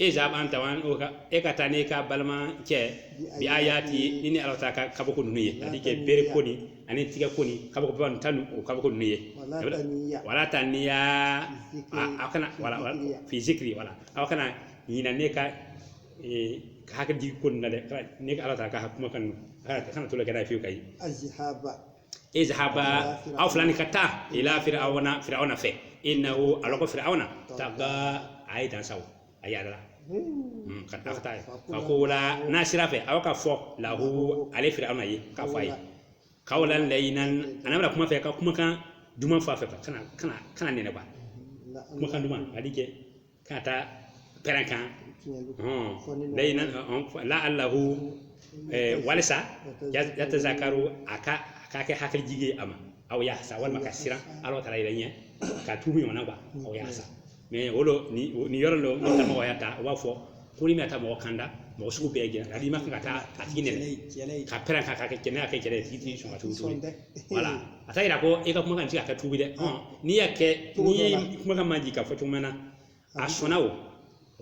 izhab anta wa akuka e ka taa n'e ka balimakɛ bi ayati ni ne ala ta ka kabako ninnu ye c'est-à-dire que bere ko nin ani tigɛ ko nin kabako ba tɔ ninnu o kabako ninnu ye wala taniya aw kana wala fi zikri wala aw kana ɲina ne ka ka hakili jigi ko nin na dɛ ne ka ala ta ka kuma kan kana to kɛ n'a ye fiyewu ka ye izhaba aw fila ni ka taa ila firawuna firawuna fɛ innahu ala ko firawuna taga a ye dan sago a yadara Mm, ka taa ka taa ye fakula n'aw sera a fɛ aw ka fɔ lahu ale firawuna ye k'a fɔ a ye kawlan layinan ana bɛna kuma a fɛ ka kumakan duman fɔ a fɛ kana kana kana nɛni ba kumakan duman c'est-à-dire que ka taa pɛrɛn kan layinan laalahu walisa yatazakaru a ka a k'a kɛ hakili jigi ye a ma aw yaksa walima ka siran ala taala yɛrɛ ɲɛ ka tuubi ɲɔgɔnna wa aw yaksa mɛ o don nin yɔrɔ dɔ n'o mɔgɔ y'a ta u b'a fɔ ko n'i ma taa mɔgɔ kanda mɔgɔ sugu bɛɛ jɛnɛ hali i man kan ka taa a tigi nɛni ka pɛrɛn kan ka kɛ kɛnɛya kɛ kɛlɛ tigi tɛ sɔn ka tuubi wala a t'a yira ko e ka kumakan tɛ se ka kɛ tubi dɛ n'i y'a kɛ n'i ye kumakan majigi ka fɔ cogo min na a sɔnna o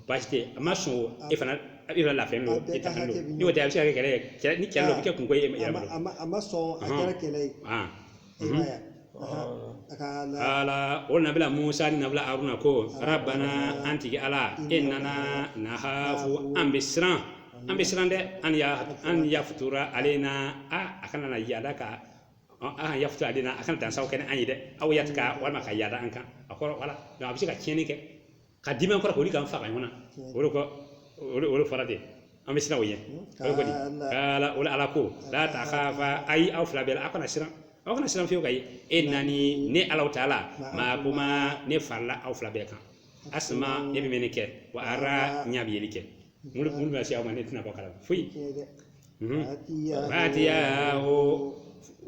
baasi tɛ a ma sɔn o e fana a bɛ lafiya n'o e ta don n'i y'o tɛ a bɛ se ka kɛ kɛlɛ ye ni kɛlɛ dɔ bɛ kɛ kunko ye yɛrɛ bolo a ma sɔn a kɛra kɛlɛ ye ala o nabila musa ni nabila aruna ko rabbana an tigi ala innana nahafu an bɛ siran an bɛ siran dɛ an ya an yafuruta alayna a kana na yaada ka an yafuruta alayna a kana dansagon kɛ ni an ye dɛ aw yatiga walima ka yaada an kan a kɔrɔ wala donc a bɛ se ka tiɲɛni kɛ ka dimi kɔrɔ k'olu kan faga ɲɔgɔn na o de kɔ o de o de fɔra ten an bɛ siran o ɲɛ o de kɔni ala o la ala ko la takafa ayi aw fila bɛɛ la aw kana siran aw kana siran fiyewu ka ye innani ne alahu taala maakuma ne farala aw fila bɛɛ kan asima ne bɛ mɛnni kɛ wa ara ɲa bɛ yeli kɛ mun bɛ se aw ma ne tɛna bɔ a kalama foyi faatiyahu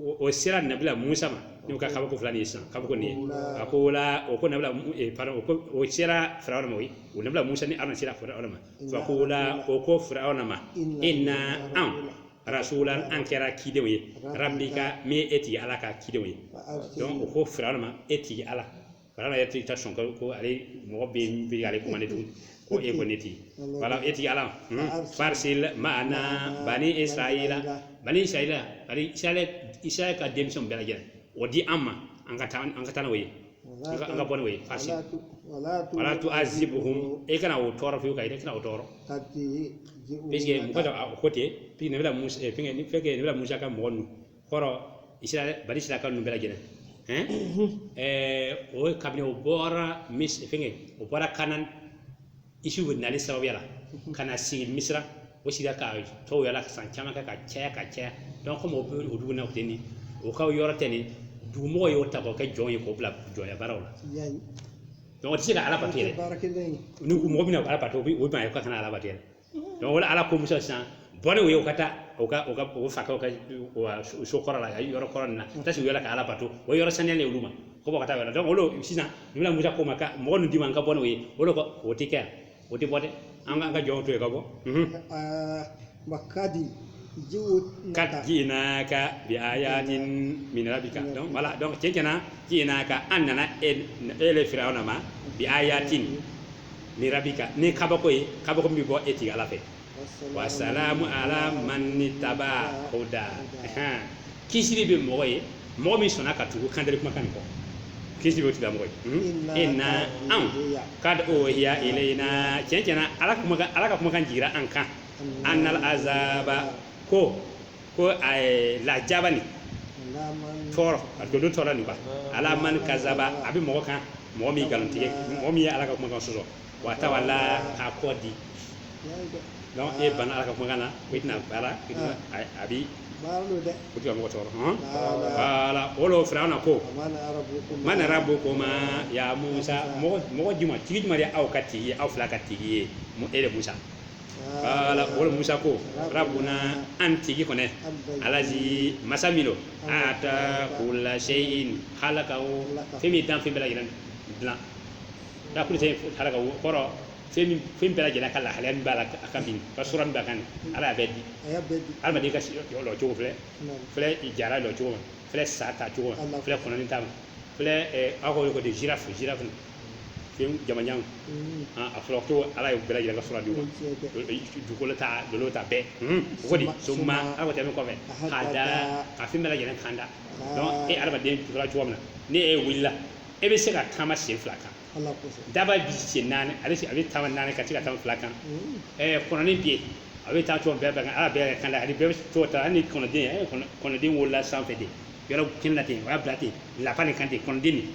o sera nabila musa ma n'o ka kabako fila nin san kabako nin ye fakula o ko nabila pardon o ko o sera firawuna ma o ye o nabila musa ni aruna sera firawuna ma fakula o ko firawuna ma inna an rasula an kɛra cidenw ye rabbika min ye e tigi ala ka cidenw ye donc o ko firawuna ma e tigi ala Kana yɛrɛ tɛ taa sɔn kalo ko ale mɔgɔ bɛ yen bɛ ale kuma ne tun ko e ko ne tigi ala e tigi ala farisili maana bani isirayila bani isirayila ka denmisɛn bɛɛ lajɛlen o di an ma an ka taa an ka taa n'o ye an ka bɔ n'o ye farisili wala tuazibuhum e kana o tɔɔrɔ fiyewu ka e kana o tɔɔrɔ mɔgɔ dɔ ko ten fɛn nabila musa ka mɔgɔ ninnu kɔrɔ isira bani isirayilaka ninnu bɛɛ lajɛlen ɛɛ eh, o ye kabini o bɔra mis fɛngɛ o bɔra kanan isufu nali sababuya la ka na sigi misira o sigira ka to yɔrɔ la san caman kɛ ka caya ka caya donc komi o bɛ o dugu na o tɛ nin o ka yɔrɔ tɛ nin dugumɔgɔ y'o ta k'o kɛ jɔn ye k'o bila jɔnya baaraw la donc o tɛ se ka ala bato yɛrɛ ni mɔgɔ bɛna ala bato o bɛ o bɛna ye ka kana ala bato yɛrɛ donc o la ala ko musa sisan bɔ ni o ye o ka taa o ka o ka o fa ka so kɔrɔ la yɔrɔ kɔrɔ nin na taa sigi yɔrɔ ka ala bato o yɔrɔ saniya de olu ma ko bɔ ka taa yɔrɔ donc o lo sisan nabila musa ko ma ka mɔgɔ ninnu di n ma n ka bɔ n'o ye o lo ko o tɛ kɛ yan o tɛ bɔ dɛ an k'an ka jɔnw to yen ka bɔ makadi kad jiinaka bi ayatin min rabbika donc voilà donc cɛncɛna jiinaka an nana ele firawuna ma bi ayatin min rabbika ni kabako ye kabako min bɛ bɔ e tigi ala fɛ wasalamu ala man itaba huda Ahan. kisiri bɛ mɔgɔ ye mɔgɔ min sɔnna ka tugu kandari kumakan nin kɔ kisiri bɛ tigilamɔgɔ ye Hmm? inna anw kad uhiya ilayna tiɲɛ tiɲɛna ala kumakan ala ka kumakan jigira an kan an nal azaba ko ko eh, lajaba nin tɔɔrɔ a dodo tɔɔrɔ nin ba ala man kazaba a bɛ mɔgɔ kan mɔgɔ min nkalontigɛ mɔgɔ min ye ala ka kumakan sɔsɔ wa tawala k'a kɔ di donc e banna ala ka kumakan na ko i tɛna baara i tɛna a- a bi baara don dɛ o tɛ ka mɔgɔ tɔɔrɔ hɔn kala o lo firawuna ko man rabbukuma ya musa mɔgɔ mɔgɔ juma tigi juma de aw ka tigi ye aw fila ka tigi ye mu- e le musa kala o la musa ko rabuna an tigi kɔni alazi masa min lo ata kula seyin halakahu fɛn min dan fɛn bɛɛ lajɛlen dilan ata kula seyin halaka o kɔrɔ fɛn min fɛn bɛɛ lajɛlen ka lahalaya min b'a la a kan bi ka sura min b'a kan ala y'a bɛɛ di adamaden ka lɔ cogo filɛ filɛ jara lɔ cogo ma filɛ sa ta cogo ma filɛ kɔnɔni taama filɛ aw ko de girafe girafe fɛn jamanjan a fɔra ko ala ye bɛɛ lajɛlen ka sura di ma dugukolo ta dolo ta bɛɛ o ko di summa ala tɛmɛ kɔfɛ hada ka fɛn bɛɛ lajɛlen kanda donc e adamaden sura cogo min na ni e wulila e bɛ se ka taama sen fila kan daba bi sen naani a bɛ a bɛ taama naani kan a tɛ se ka taama fila kan ɛɛ kɔnɔni bɛ yen a bɛ taa cogo bɛɛ bɛɛ kan ala bɛɛ kanda ani bɛɛ bɛ cogo ta hali ni kɔnɔden kɔnɔden wolola sanfɛ de yɔrɔ kelen na ten o y'a bila ten lafa ni kan ten kɔnɔden nin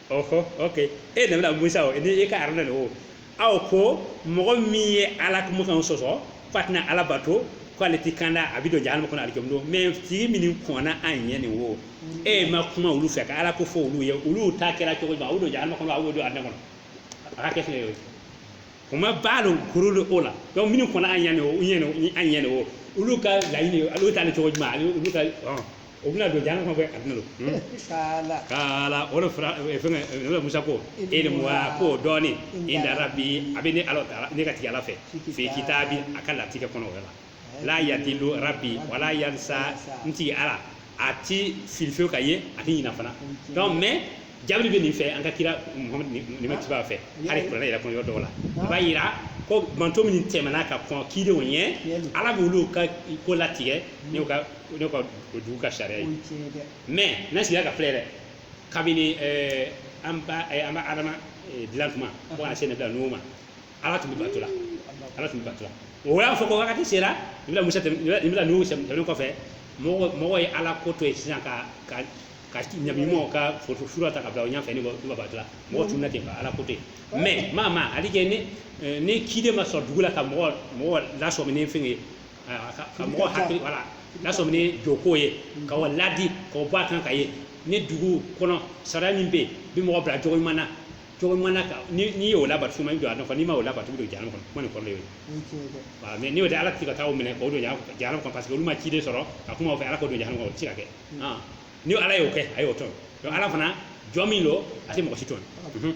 ɔhɔ ok e nabila musa o ni e ka haruna o aw ko mɔgɔ min ye ala kumakan sɔsɔ ko a tɛna ala bato ko ale ti kanda a bɛ don jahanama kɔnɔ ale kɛmɛ don mais tigi min kɔnna an ɲɛ nin wo e ma kuma olu fɛ ka ala ko fɔ olu ye olu ta kɛra cogo jumɛn a y'o don jahanama kɔnɔ a y'o don arijana kɔnɔ a ka kɛ fɛn ye o fama balu kurunil ula donc minnu kɔnna an ɲɛ nin wo ɲɛ nin an ɲɛ nin wo olu ka laɲini olu ta ni cogo jumɛn ale olu ka o bɛna don jahanama kɔnɔ koyi arijana lo Hmm. kala kaala o de fara eh, fɛngɛ eh, o de musa ko ilmuha ko dɔnni inda rabbi a bɛ ne ala taala ne ka tigi ala fɛ fi kitabi a ka latigɛ kɔnɔ o yɔrɔ la la yadilu rabbi wala yansa n tigi ala a ti fili fewu ka ye a ti ɲina fana donc mais jaabi bɛ nin fɛ an ka kira muhamadu ni matigiba fɛ hali kuranɛ yɛrɛ kɔnɔ yɔrɔ dɔw la a b'a yira ko mantɔn minnu tɛmɛna ka kɔn kidenw ɲɛ ala b'olu ka ko latigɛ n'u ka o de ka o dugu ka sariya ye mais ne sigira ka filɛ dɛ kabini an bɛnba adama dilan tuma ka na se nabila nuhu ma ala tun bɛ bato la ala tun bɛ bato la o y'a fɔ ko wagati sera nabila musa nabila nuhu tɛmɛnen kɔfɛ mɔgɔ mɔgɔ ye ala ko to yen sisan ka ka ka nabi ɲumanw ka foto sura ta ka bila o ɲɛfɛ n'u b'a bato la mɔgɔ tununna ten ka ala ko to yen mais maa maa hali kɛ ni ni kiden ma sɔrɔ dugu la ka mɔgɔ mɔgɔ lasɔmin fɛn ye ka mɔgɔ hakili wala n'a sɔrɔ ni jogo ye ka o laadi ka bɔ a kan ka ye ni dugu kɔnɔ sariya min bɛ yen bi mɔgɔ bila cogo ɲuman na cogo ɲuman na n'i y'o labato suma jɔ a nafa n'i ma o labato don jahanama kɔnɔ kuma ni kɔrɔ ye wa mais n'o tɛ ala tɛ ka taa minɛ k'o don jahanama kɔnɔ parce que olu ma ciden sɔrɔ ka kuma o fɛ ala k'o don jahanama kɔnɔ o tɛ se ka kɛ ni ala y'o kɛ a y'o tɔɲɔ ala fana jɔn min don a tɛ mɔgɔ si tɔɲɔ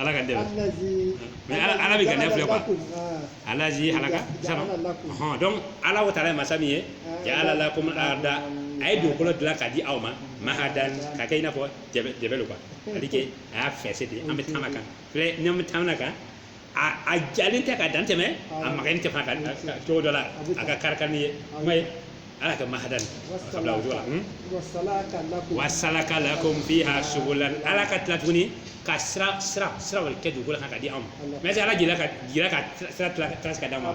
ala kan dɛ mais ala bɛ ŋaniya filɛ quoi alaji halaka sara hɔn donc ala wa taala ye masa min ye jaala lakum arda a ye dugukolo dilan ka di aw ma mahadan ka kɛ i n'a fɔ jɛbɛ lo quoi c'est-à-dire que a y'a fɛnsɛ de an bɛ taama kan filɛ n'an bɛ taama kan a jalen tɛ ka dantɛmɛ a maganen tɛ fana ka cogo dɔ la a ka kari ni ye kuma ye ala ka mahadan wasalaka lakum fiha subulan ala ka tila tuguni ka sira sira sira wɛrɛ kɛ dugukolo kan ka di anw ma mais ala jira ka jira ka sira tracé ka d'an ma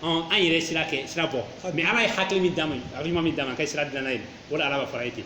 an yɛrɛ sira kɛ sira bɔ mais ala ye hakili min d'an ma a bɛ ɲuman min d'an ma ka sira dilanna ye o ala b'a fɔra i ye ten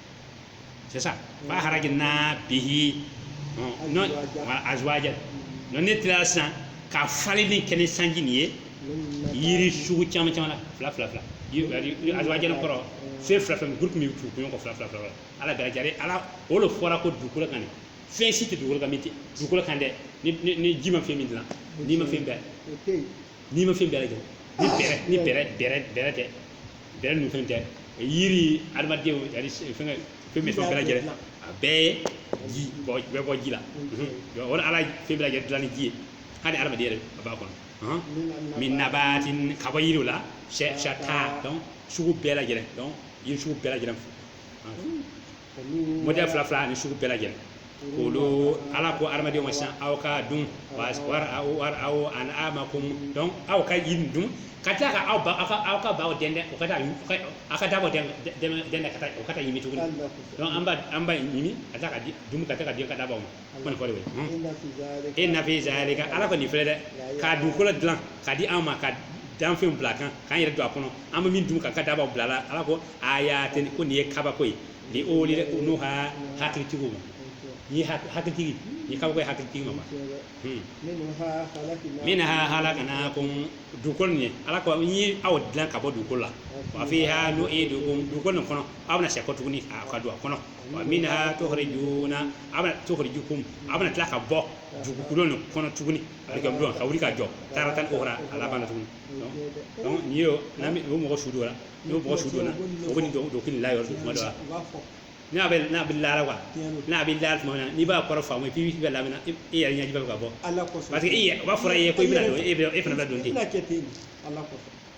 c'est ça fa harajina bihi ɔn, non, wala, azwajan non ne tilala sisan ka falenni kɛ ni sanji nin ye yiri sugu caman caman na fila fila fila Yiri- yiri- yiri- azwajan kɔrɔ fɛn fila fila groupe min bɛ tugu ɲɔgɔn kɔ fila fila fila ala bɛɛ lajɛlen ala o de fɔra ko dugukolo kan de fɛn si tɛ dugukolo kan min tɛ dugukolo kan dɛ ni ni ni ji ma fɛn min dilan nimafɛn bɛɛ o tɛ yen nimafɛn bɛɛ lajɛlen ni bɛrɛ ni bɛrɛ bɛrɛ bɛrɛ tɛ bɛrɛ ninnu fɛn tɛ yiri adamadenw yani fɛn fɛn bɛ fɛn bɛɛ lajɛlen a bɛɛ ye ji bɔ bɛɛ bɔ ji la Mhm. o de ala ye fɛn bɛɛ lajɛlen dilan ni ji ye hali adamaden yɛrɛ a b'a kɔnɔ Ɔhɔn. min nabaatin ka bɔ yiriw la shata donc sugu bɛɛ lajɛlen donc yiri sugu bɛɛ lajɛlen fo mɔdɛli fila fila ani sugu bɛɛ lajɛlen kulu ala ko adamadenw ma sisan aw ka dun wa wari aw wari aw anamakum donc aw ka yiri dun ka tila ka aw ba aw ka aw ka baw dɛndɛn o ka taa u ka aw ka daba dɛndɛn dɛndɛn ka taa o ka taa ɲimi tuguni donc an b'a an b'a ɲimi ka taa ka di dun ka taa ka di ka dabaw ma kɔni fɔ de bɛ inna fi zalika ala kɔni filɛ dɛ ka dugukolo dilan k'a di an ma ka danfɛnw bila kan k'an yɛrɛ don a kɔnɔ an bɛ min dun ka ka dabaw bila la ala ko ayatin ko nin ye kabako ye li uli nuha hakilitigiw ma ni hakilitigi ni kabako ye hakilitigi ma minha halaknakum dugukolo nin ye ala ko n ye aw dilan ka bɔ dugukolo la wa fiha nu'idukum dugukolo nin kɔnɔ aw bɛna segin kɔ tuguni a ka don a kɔnɔ wa minha tukhrijuna aw bɛna tukhrijukum aw bɛna tila ka bɔ dugukolo nin kɔnɔ tuguni alikiyama lon ka wuli ka jɔ taratan ukhra a laban na tuguni donc n'i y'o n'an bɛ o mɔgɔ su donna n'o mɔgɔ su donna o bɛ nin dɔn dɔnkili la yɔrɔ tuma dɔ la n'a bɛ n'a bɛ lara quoi n'a bɛ lara tuma min na n'i b'a kɔrɔ faamu k'i bɛ lamɛnna e yɛrɛ ɲɛji bɛ ka bɔ parce que e yɛrɛ o b'a fɔra e ye ko i bɛna don e bɛ e fana bɛ don ten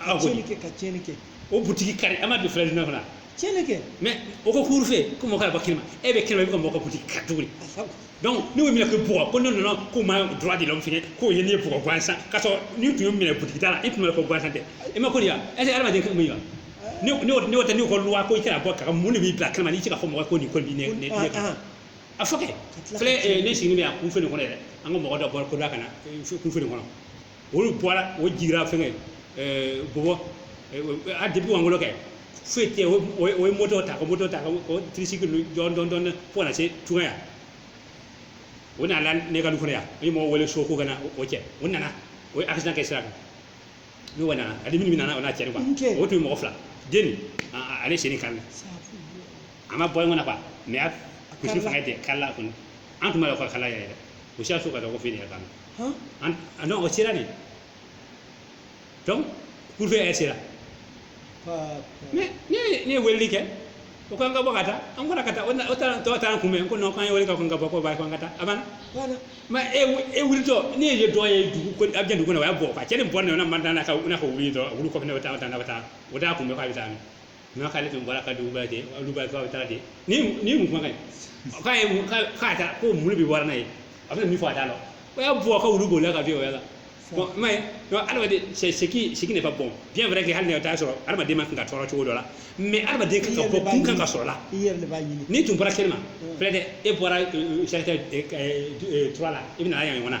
a ko tiɲɛni kɛ ka tiɲɛni kɛ o butigi kari an ma don filɛ jumɛn kɔnɔ tiɲɛni kɛ mais o ko couvre-feu ko mɔgɔ ka bɔ kɛnɛma e bɛ kɛnɛma i bɛ ka mɔgɔ ka butigi kari cogo di a sabu donc n'o y'i minɛ k'i bugɔ ko ne nana k'o ma droit de l'homme fɛ k'o ye ne ye bugɔ gansan k'a sɔrɔ n'i tun y'o minɛ butigi da la i tun bɛ ko gansan tɛ i ma ko de ya est ce que adamaden ka mun ye wa ne ne y'o ne y'o tɛ ne y'o ka loi ko i tɛna bɔ kaga mun de b'i bila kɛnɛma n'i tɛ ka fɔ mɔgɔ ko nin ko nin ne ne ne Ah, ah. a fɔ kɛ tila ka filɛ eh, ne sigilen bɛ yan couvre-feu nin kɔnɔ yɛrɛ an ka mɔgɔ dɔ bɔra ko da kana eh, couvre-feu nin kɔnɔ olu bɔra o jigira fɛngɛ ɛɛ bɔbɔ a depuis wa ngolo kɛ foyi tɛ o ye moto ta ka moto ta ka o tricycle dɔn dɔn dɔn fo ka na se tungaya o nana ne ka du kɔnɔ yan o ye mɔgɔ wele so ko ka na o cɛ o nana o ye accident kɛ sira kan ne wa nana a dimini min nana o n'a cɛri quoi o tun ye mɔgɔ fila den ale sen nin karila a ma bɔ ɲɔgɔn na quoi mais a kusi fanga tɛ kari la kɔni an tun b'a dɔn ko kala yɛrɛ o si y'a so ka taa couvre-feu yɛrɛ kan Huh? An, ah non, o sera de. Donc, couvre-feu yɛrɛ sera. Pa, pa. Mais ne ye ne ye weleli kɛ o ko an ka bɔ ka taa an bɔra ka taa o na- o taara tɔw taara n kunbɛn ko non k'an ye wele k'an ka bɔ k'o b'a ye k'an ka taa a banna. Voilà. mais e wu- e wulitɔ ne ye dɔ ye dugu ko a bɛ dugu kɔnɔ o y'a bɔ quoi cɛ nin bɔ ne na man na ka na ka wuli dɔrɔn a wuli kɔfɛ ne bɛ taa o taa ne bɛ taa o t'a kunbɛn k'a bɛ taa min non k'ale tun bɔra ka dugu bɛɛ lajɛ olu bɛɛ bɛ taa de ni ni mun kuma k'a ye k'a ta ko mulu bɛ wari n'a ye a bɛ min fɔ a t'a la o y'a bɔ ka wulu bolila ka bin o y'a la bon i m'a ye donc adamaden c'est ce qui ce qui n'est pas bon bien vrai que hali n'a t'a sɔrɔ adamaden man kan ka tɔɔrɔ cogo dɔ la mais adamaden kan ka bɔ kun kan ka sɔrɔ la i yɛrɛ de b'a ɲini n'i tun bɔra kɛnɛma peut-être e bɔra charité trois la i bɛna yan ɲɔgɔn na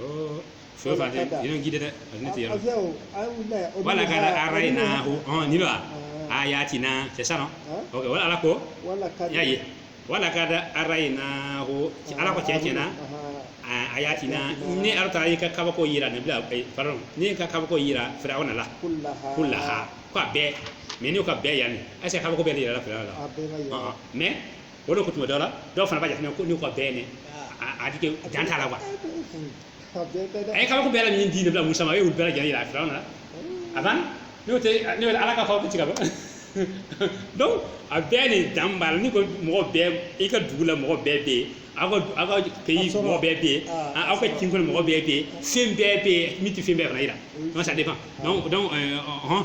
Oh, fɛn o fɛn a tɛ i bɛ gide dɛ a ne tɛ yɛrɛ wa laqad araynahu hɔn ni ba ayatina c'est ça non ok wala ala ko y'a ye wa laqad araynahu ala ko tiɲɛ na ayatina ne ala taara n ka kabako jira nabila pardon ne ka kabako jira firawuna la kullaha ko a bɛɛ mais n'o ko a bɛɛ yanni est ce que kabako bɛɛ de yirala firawuna la mais o de ko tuma dɔ la dɔw fana b'a jateminɛ ko n'o ko a bɛɛ ne a di dan t'a la quoi a ye kabako bɛɛ la min di nabila musa ma e y'u bɛɛ lajɛlen yira firawuna la a banna n'o tɛ ne bɛ ala ka kabako ti ka ban donc a bɛɛ ni dan b'a la n'i ko mɔgɔ bɛɛ i ka dugu la mɔgɔ bɛɛ bɛ yen aw ka aw ka pays mɔgɔ bɛɛ bɛ yen aw ka kin kɔnɔ mɔgɔ bɛɛ bɛ yen fɛn bɛɛ bɛ yen min tɛ fɛn bɛɛ fana yira donc ça dépend donc donc hɔn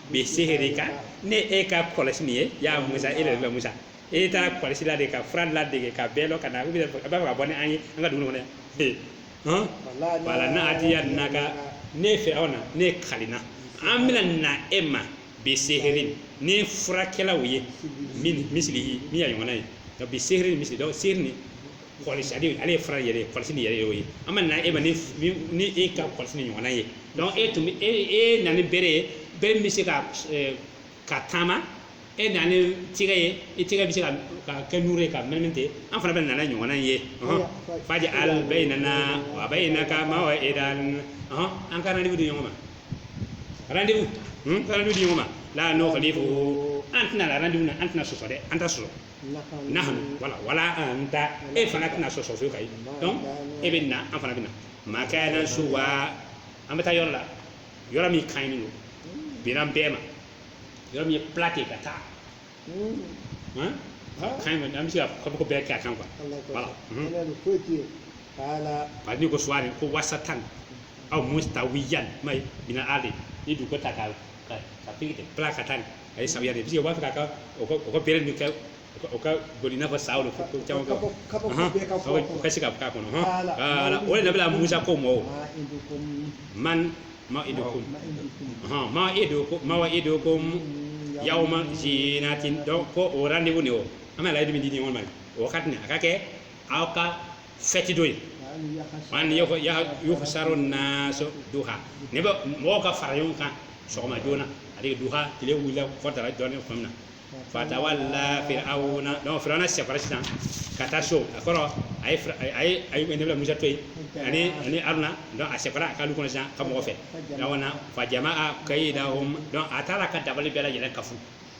bi sihirika ni e ka kɔlɔsi nin ye ya musa e de bɛ musa e taara kɔlɔsi ladege ka fura ladege ka bɛɛ lɔ ka na u bɛ a b'a fɛ ka bɔ ni an ye an ka dugu kɔnɔ ee hɔn falana adiyanaka ne fana ne kalina an bɛna na e ma bi sihirin ni furakɛlaw ye min misili min y'a ɲɔgɔnna ye nka bi sihirin misili dɔw sihiri ni kɔlɔsi ale ale ye fura yɛrɛ ye kɔlɔsi ni yɛrɛ y'o ye an bɛ na e ma ni ni e ka kɔlɔsi ni ɲɔgɔnna ye donc e tun bɛ e e na ni bere ye bere min bɛ se ka eh, ka taama e na ni tigɛ ye i tigɛ bɛ se ka ka kɛ nuru ye ka mɛnɛmɛ ten an fana bɛ na ni ɲɔgɔnna in ye ɔhɔn. faji al bayinana wa bayinaka mawa edan ɔhɔn an ka rendez-vous di ɲɔgɔn ma rendez-vous hmm? ka rendez-vous di ɲɔgɔn ma la nukhlifu an tɛna la rendez-vous na an tɛna sɔsɔ dɛ an t'a sɔsɔ nahanu wala anta e fana tɛna sɔsɔ fiyewu ka ye donc e bɛ na an fana bɛ na makanan suwa an bɛ taa yɔrɔ la yɔrɔ min ka ɲi don bilan bɛɛ ma yɔrɔ min ye plat ten ka taa hɔn ka ɲi an bɛ se ka kabako bɛɛ kɛ a kan quoi voilà bari ni ko suwari ko wasatan aw mustawiyan mai bina ale ni dugu ta ka ka ka pili ka plat ka taa a ye samiya de ye u b'a fɛ ka ka o ka o ka bere ninnu kɛ o ka- o ka boli i n'a fɔ sa o de fɔ ko caman kɛ Kabako- kabako Ɔhɔn, bɛɛ ka fɔ kabako- o ka se ka k'a kɔnɔ hɔn Ala. Ala, o de la nabila musa ko mɔ o man mawaidukum ɔhɔn ma- mawaidukum yawma zinatin donc ko o rendez-vous nin o an bɛ layidu min di ɲɔgɔn ma nin o wagati nin a ka kɛ aw ka fɛti don ye an yuhusaru nasu duha ne bɛ mɔgɔw ka fara ɲɔgɔn kan sɔgɔma joona ale duha tile wulila fɔ dara jɔlen tuma min na fatawala firawuna donc firawuna sekɔra sisan ka taa so a kɔrɔ a ye Fira- a ye a ye nabila musa to yen ani ani aruna donc a sekɔra a ka lu kɔnɔ sisan ka mɔgɔ fɛ firawuna fajama'a kayidahu donc a taara ka dabali bɛɛ lajɛlen kafo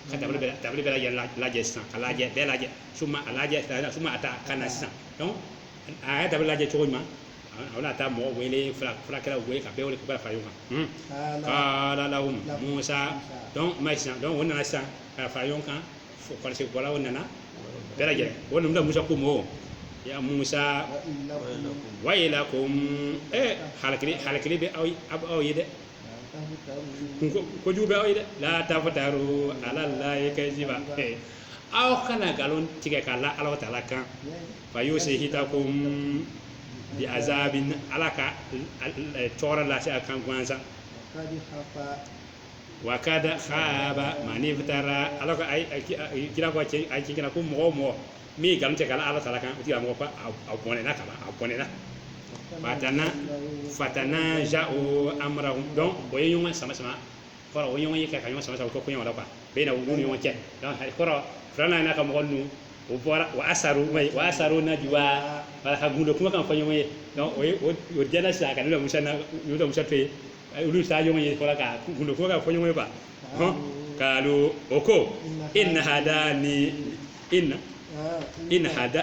ka dabali bɛɛ dabali bɛɛ lajɛ lajɛ sisan ka lajɛ bɛɛ lajɛ suma a lajɛ suma ata ka na sisan a y'a dabali lajɛ cogo ɲuman a bɛna taa mɔgɔ wele furakɛlaw wele ka bɛɛ wele k'u ka fara ɲɔgɔn kan kaala lahum musa donc ma sisan donc o nana sisan ka fara ɲɔgɔn kan fo kɔlɔsi bɔlaw nana bɛɛ lajɛlen o nabila musa ko mɔɔ ya musa wayilakum ee halakili halakili bɛ aw aw ye dɛ ko jugu bɛ aw ye dɛ la taftaru ala lahi kajiba aw kana nkalon tigɛ k'a la ala taala kan fa yusihitakum bi azabin ala ka tɔɔrɔ lase a kan gansan wa kada haba mani iftara ala ka kira ko a ci kana ko mɔgɔ mɔgɔ min ye nkalon tigɛ k'a la ala taala kan o tigila mɔgɔ a bɔnɛna ka a bɔnɛna fatana fatanaja u amarahum donc o ye ɲɔgɔn sama sama kɔrɔ o ɲɔgɔn ye ka ka ɲɔgɔn sama sama o ko koɲɛ la quoi bayinahum u ni ɲɔgɔn cɛ donc kɔrɔ firawuna n'a ka mɔgɔ ninnu o bɔra o asaru ma ye wa asaru najuwa wala ka gundo kuma kan fɔ ɲɔgɔn ye donc o ye o jɛnna sisan ka nabila musa na nabila musa to yen olu bɛ taa ɲɔgɔn ye fɔlɔ ka gundo kuma kan fɔ ɲɔgɔn ye quoi hon kalu o ko in hada ni in in hada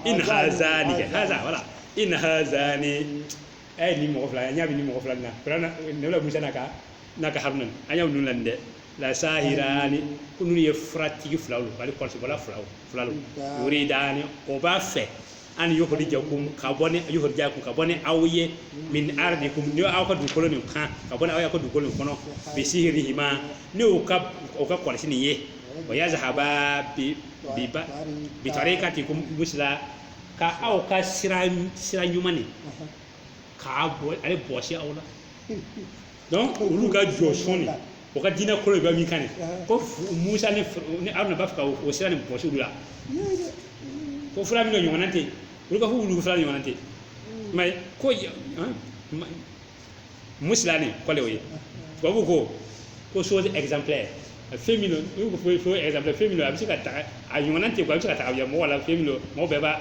in haza ni haza wala in haza ni a ye nin mɔgɔ fila an ɲa bɛ nin mɔgɔ fila nin na kuranna nabila musa n'a ka n'a ka haruna an ɲa bɛ ninnu la dɛ lasahirani ko ninnu ye furatigi fila olu wali kɔlɔsibɔla filaw yuridani o b'a fɛ an yukhrijakum ka bɔ ni yukhrijakum ka bɔ ni aw ye min ardikum ni aw ka dugukolo nin kan ka bɔ ni aw ye aw ka dugukolo nin kɔnɔ bi sihrihima ni u ka u ka kɔlɔsi nin ye wa yazhaba bi tarikatikum musla ka aw ka sira sira ɲuman nin k'a bɔ ale bɔsi aw la donc olu ka jo sɔnni o ka diinɛ kolo bɛ min kan de ko musa ni ni aruna b'a fɛ ka o sira nin bɔsi olu la ko fura min ɲɔgɔnna tɛ olu ka ko olu fura ɲɔgɔnna tɛ mais ko musla nin kɔrɔ le o ye tubabu ko ko chose exemplaire fɛn min don n'u ko fo exemple fɛn min don a bɛ se ka ta a ɲɔgɔnna tɛ ko a bɛ se ka ta ka bila mɔgɔ la fɛn min don mɔgɔ bɛɛ b'a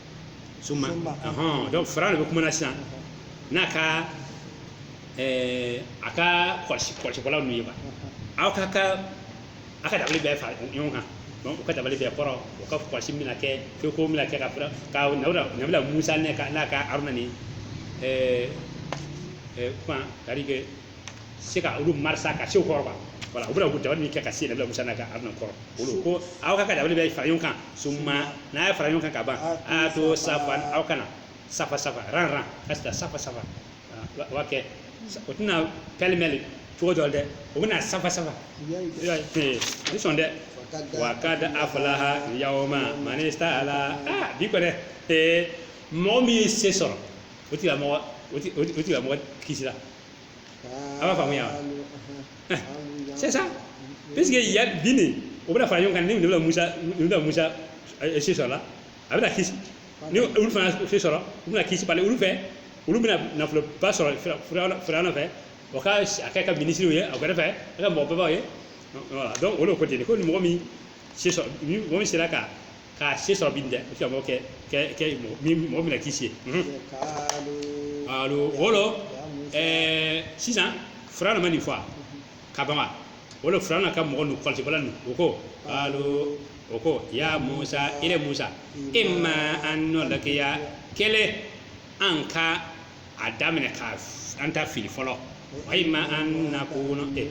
suma ɔhɔn donc firawuna de bɛ kuma na sisan n'a ka ɛɛ a ka kɔlɔsi kɔlɔsibɔlaw ninnu ye wa aw ka ka aw ka dabali bɛɛ fara ɲɔgɔn kan donc u ka dabali bɛɛ kɔrɔ u ka kɔlɔsi bɛna kɛ feko bɛna kɛ ka fara ka nabila nabila musa n'a ka n'a ka haruna ni ɛɛ ɛɛ kuma c'est à dire que se ka olu marisa ka se kɔrɔ wala u bɛna dabali min kɛ ka se nabila musa n'a ka aruna kɔrɔ olu ko aw ka dabali bɛɛ fara ɲɔgɔn kan summa n'a ye fara ɲɔgɔn kan ka ban itu safan aw ka na safa safa rang rang ka se safa safa wa kɛ o tɛna pêle-mêle cogo dɔ la dɛ o bɛna safa safa ni sɔn dɛ wa kad aflaha yawma man ista'ala ah bi kɔni ee mɔgɔ min ye se sɔrɔ o tigilamɔgɔ o tigilamɔgɔ kisi la a b'a faamuya c'est ça parce que ya bin de o bɛna fara ɲɔgɔn kan ni nabila musa se sɔrɔ la a bɛna kisi ni olu fana se sɔrɔ u bɛna kisi bali olu fɛ olu bɛna nafoloba sɔrɔ firawuna fɛ o ka kɛ a ka minisiriw ye a yɛrɛ fɛ a ka mɔgɔbaw ye donc o de ko ten ko ni mɔgɔ min se sɔrɔ ni mɔgɔ min sera ka k'a se sɔrɔ bi dɛ o sɔrɔ b'o kɛ kɛ kɛ mɔgɔ min mɔgɔ min na kisi alors o de ɛɛ sisan firawuna mana nin fɔ ka ban wa o de firawuna ka mɔgɔ ninnu kɔlɔsibɔla ninnu o ko kalu o ko ya musa ile musa imma an nulkiya kelen an ka a daminɛ ka an ta fili fɔlɔ wa imma an nakuna ne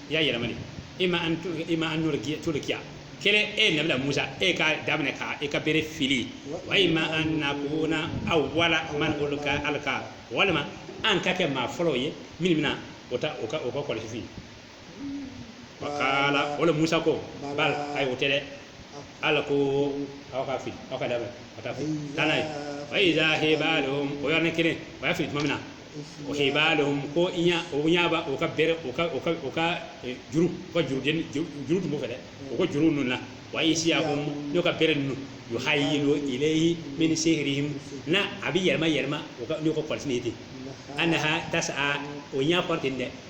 y'a yɛlɛma de imma an to- imma an nulki- tulkiya kelen e ye nabila musa e ka daminɛ ka e ka bere fili wa imma an nakuna awwala man ulka alka walima an ka kɛ maa fɔlɔw ye minnu bɛna o ta o ka o ka kɔlɔsi fili kala o le musa ko bal ayi o tɛ le alku aw ka fili aw ka labɛn ka taa fili taa n'a ye fa iza hibalum o yɔrɔnin kelen o y'a fili tuma min na o hibalum ko i ɲa o ɲa ba o ka bere o ka o ka o ka eh, juru o ka juru den juru juru tun b'o fɛ dɛ o ka juru ninnu na wa isiyahum n'o ka bere ninnu yuhayilu ilayhi min sihrihim na a bɛ yɛlɛma yɛlɛma o ka n'o ka kɔlɔsi de ye ten anaha tasa o ɲa kɔrɔ ten dɛ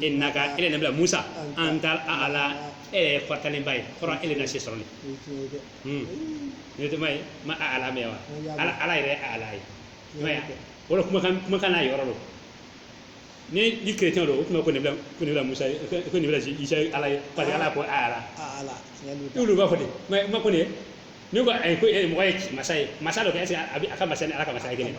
innaka e le nabila musa antal a'ala e le kɔrɔtalenba ye kɔrɔ e le na se sɔrɔ ne ne tɛ ma ye ma a'ala mɛn wa ala ala yɛrɛ a'ala ye ma ya o de kuma kan kuma kan n'a yɔrɔ don ni ni kerecɛn don o tuma ko nabila ko nabila musa ko nabila isa ala ye parce que ala ko a'ala olu b'a fɔ de ma ma ko ne ne ko ayi ko e mɔgɔ ye masa ye masa don kɛ est-ce que a bɛ a ka masa ni ala ka masa ye kelen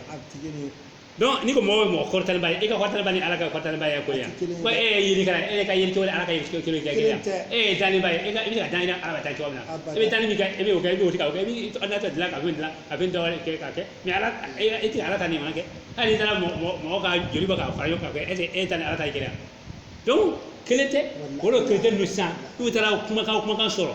donc n'i ko mɔgɔ bɛ mɔgɔ kɔrɔtalenba ye e ka kɔrɔtalenba ni ala ka kɔrɔtalenba ye ko yan ko e ye yelikɛla e ka yeli cogo ala ka yeli cogo kelen kɛ kelen e ye dannibaa ye e ka i bɛ ka dan ala ka taa cogo min na i bɛ danni min kɛ e bɛ o kɛ i b'o tigɛ o kɛ i bɛ ala ta dilan ka bɛ dilan a bɛ dɔ wɛrɛ kɛ k'a kɛ mais ala e tɛ ala ta nin ma kɛ hali n'i taara mɔgɔ ka joli bɔ k'a fara ɲɔgɔn kan kɛ e e ta ni ala ta ye kelen donc kelen tɛ o de kelen tɛ ninnu sisan n'u taara kuma kan kuma kan sɔrɔ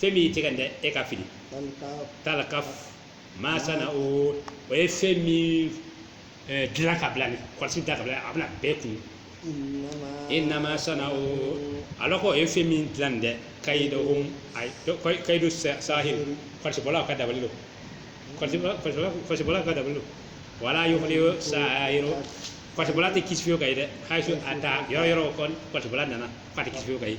fɛn min y'i tɛgɛ dɛ e ka fili talkaf ma sana'u o ye fɛn min dilan ka bila nin kɔlɔsi da ka bila a bɛna bɛɛ kunun innama sana'u ala ko o ye fɛn min dilan nin dɛ kaydu o kaydu sahir kɔlɔsibɔla ka dabali don kɔlɔsibɔla ka dabali don wala yuflihu sahiru kɔlɔsibɔla tɛ kisi fiyewu ka ye dɛ haysu ata yɔrɔ o yɔrɔ kɔlɔsibɔla nana k'a tɛ kisi fiyewu ka ye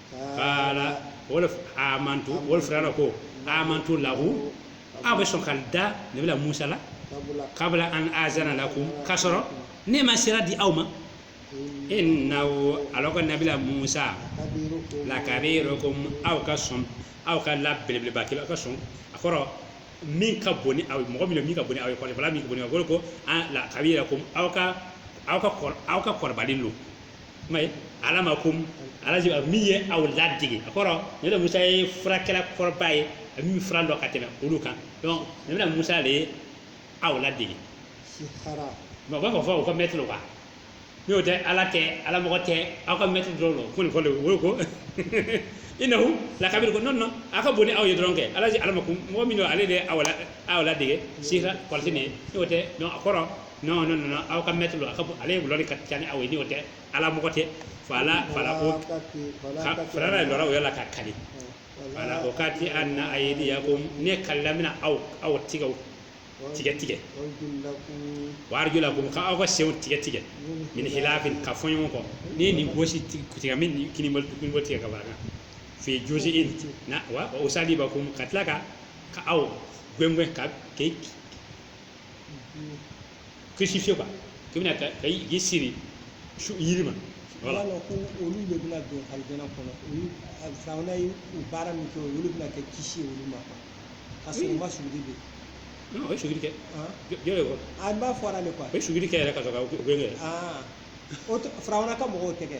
kala o le amantu o le firawuna ko amantu lahu aw bɛ sɔn ka da nabila musa la kabla an azana lakum k'a sɔrɔ ne ma sira di aw ma innahu ala ka nabila musa lakabirukum aw ka sɔn aw ka la belebeleba kelen aw ka sɔn a kɔrɔ min ka bon ni aw ye mɔgɔ min bɛ min ka bon ni aw ye kɔrɔba min ka bon ni aw ye ko lakabirukum aw ka aw ka aw ka kɔrɔba le don kuma ye allamakum allaji min ye aw ladege a kɔrɔ nabila musa ye furakɛla kɔrɔba ye a min fura dɔn ka tɛmɛ olu kan donc nabila musa de ye aw ladege sihara mais u b'a fɔ fɔ u ka mɛtiri wa n'o tɛ ala tɛ ala mɔgɔ tɛ aw ka mɛtiri dɔrɔn don ko nin fɔlen o ye ko innahu lakabiru ko non non a ka bon ni aw ye dɔrɔn kɛ allaji allamakum mɔgɔ min don ale de ye aw la aw ladege sihara kɔlɔsi nin ye n'o tɛ donc a kɔrɔ non non non aw ka mɛtiri lo a ka bon ale ye wulɔ de ka ca ni aw ye ni o tɛ ala mɔgɔ tɛ fala fala o fala la lɔrɔ o y'a la ka kali fala uqatti'anna aydiyakum ne kalila n bɛna aw aw tɛgɛw tigɛ tigɛ wa arjulakum ka aw ka senw tigɛ tigɛ min hilafin ka fo ɲɔgɔn kɔ ni nin gosi tigɛ min ni kini bol kini bolo tigɛ ka barakan fi juzi in na wa usalibakum ka tila ka ka aw gwengwen ka ke crucifier quoi k'i bɛna ka ka i siri su yiri ma voilà donc olu de bɛna don alijana kɔnɔ olu a firawuna ye u baara min kɛ o le bɛna kɛ kisi ye olu ma quoi parce que u ma sujudi don o ye sujudi kɛ han jɔn de kɔ a b'a fɔra de quoi o ye sujudi kɛ yɛrɛ ka sɔrɔ ka o gbɛngɛn aa o tɛ firawuna ka mɔgɔw tɛ kɛ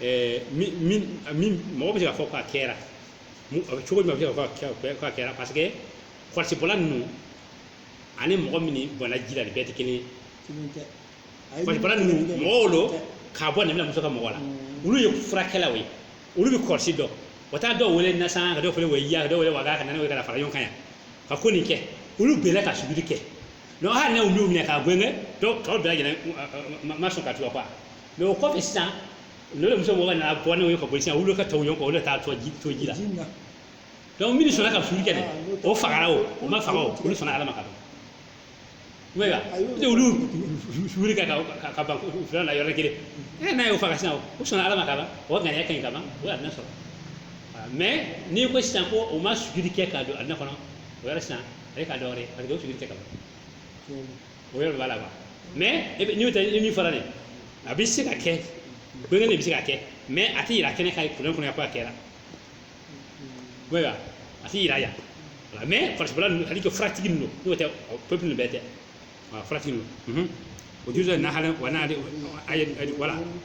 ɛɛ min min min mɔgɔ bɛ se k'a fɔ k'a kɛra cogo min a bɛ se k'a fɔ k'a kɛra parce que kɔlɔsibɔla ninnu ani mɔgɔ min bɔnna ji la nin bɛɛ tɛ kelen ye kɔlɔsibɔla ninnu mɔgɔw lo k'a bɔ nabila musa ka mɔgɔ la mm. olu ye furakɛlaw ye olu bɛ kɔlɔsi dɔn o taa dɔw wele nasan ka dɔw fana wele yiya ka dɔw wele waga ka na n'o ye ka fara ɲɔgɔn kan yan ka ko nin kɛ olu bɛɛ ka sujudi kɛ donc hali n'u y'u minɛ k'a gɛngɛn dɔw tɔw bɛɛ lajɛlen ma sɔn ka tugu a kɔ mais o kɔfɛ sisan n'o musa mɔgɔ nana bɔ n'o ye ka boli sisan olu ka tugu ɲɔgɔn kɔ olu de taa to ji to ji la donc minnu sɔnna ka sujudi kɛ dɛ o fagara o o ma faga o olu sɔnna ala ma ka ban ayiwa olu sujudi kɛ ka ka ban firawuna yɔrɔ kelen e n'a y'o faga sisan o sɔnna ala ma ka ban o ŋaniya ka ɲi ka ban o ye alijana sɔrɔ mais n'i ko sisan ko o ma sujudi kɛ ka don alijana kɔnɔ o yɛrɛ sisan ale ka dɔwɛrɛ parce que o sujudi kɛ ka ban o yɛrɛ b'a la quoi mais e bɛ n'o tɛ min fɔra dɛ a bɛ se ka kɛ gbɛngɛn de bɛ se ka kɛ mais a tɛ yira kɛnɛ kan kuranɛ kɔnɔ ko a kɛra ayiwa a tɛ yira yan voilà mais kɔlɔsibɔla ninnu hali kɛ furatigi ninnu n'o tɛ peuple ninnu bɛɛ tɛ voilà furatigi ninnu o juru dɔ nahala wa n'ale a ye voilà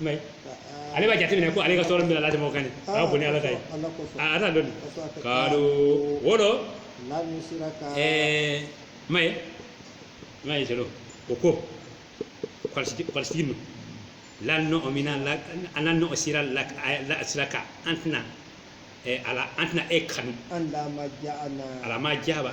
mais ale b'a jateminɛ ko ale ka tɔɔrɔ min b'a latɛmɛ mɔgɔ kan a ka bon ni ala ta ye a t'a dɔn ka don wo dɔ mais mais qalu o ko kɔlɔsitigi ninnu lan nu'mina lan nu'sira la siraka an tɛna ala an tɛna e kanu ala ma ja'ana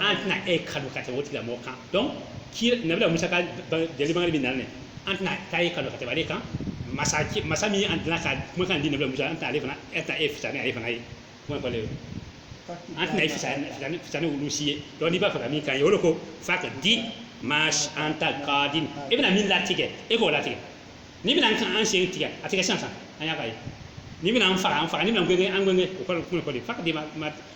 an tɛna e kanu ka tɛmɛ o tigilamɔgɔ kan donc nabila musa ka jelimakɛ bɛ na dɛ an tɛna taa e kanu ka tɛmɛ ale kan masa masa min an tɛna ka kumakan di nabila musa an tɛna ale fana an tɛ e fisa ni ale fana ye kuma fɔlen ye an tɛna e fisa ni fisa ni olu si ye donc n'i b'a fɛ ka min k'an ye o de ko faqdi ma anta qadin e bɛna min latigɛ e k'o latigɛ n'i bɛna an kan an sen tigɛ a tigɛ sisan sisan an ɲa k'a ye n'i bɛna an faga an faga n'i bɛna an gɛngɛn an gɛngɛn o kɔrɔ kuma kɔrɔ faqdi ma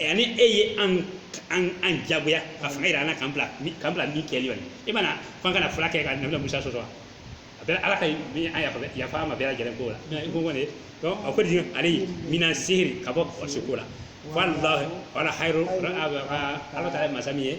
ani e ye an jagoya ka fanga jira an kan k'an bila min kɛli kɔni e mana fan kana fila kɛ ka nabila musa sɔsɔ wa a bɛ ala ka yafa an ma bɛɛ lajɛlen ko la i ko kɔni a ko di alayhi mina sihri ka bɔ su ko la wallahi wallahu khayru ala taala ye masa min ye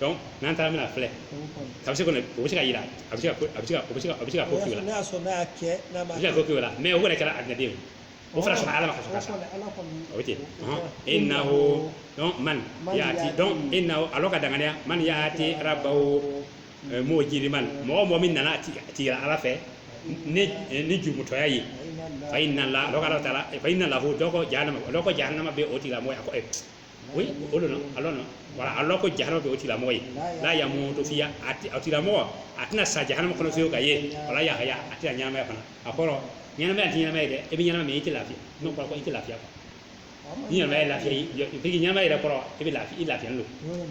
donc n'an taara bɛna filɛ a bɛ se kɔni o bɛ se ka yira a bɛ se ka ko k'i la n'a y'a sɔrɔ n'a y'a kɛ n'a a ma bɛ se ka ko k'i la mais o yɛrɛ kɛra adinaden o fana sɔnna ala ma ka sɔrɔ ka sa o bɛ ten innahu donc man yaati donc innahu a lɔn ka danganiya man yaati rabbahu mujriman mɔgɔ o mɔgɔ min nana a ti a tigi ala fɛ ni ni jurumutɔya ye fa inna la lɔn k'ala taala fa inna lahu donc jahanama lɔn ko jahanama bɛ o tigila mɔgɔ ye a ko ɛ o a lɔn ko jahanama bɛ o tigilamɔgɔ ye la yamutu fiha o tigilamɔgɔ a tɛna sa jahanama kɔnɔ fiye ka ye wala yahya a tɛna ɲɛnamaya fana a kɔrɔ ɲɛnamaya tɛ ɲɛnama ye dɛ i bɛ ɲɛnama mais i tɛ lafiya n'o i tɛ lafiya ni ɲɛnamaya lafiya ɲɛnamaya yɛrɛ kɔrɔ i bɛ lafiya don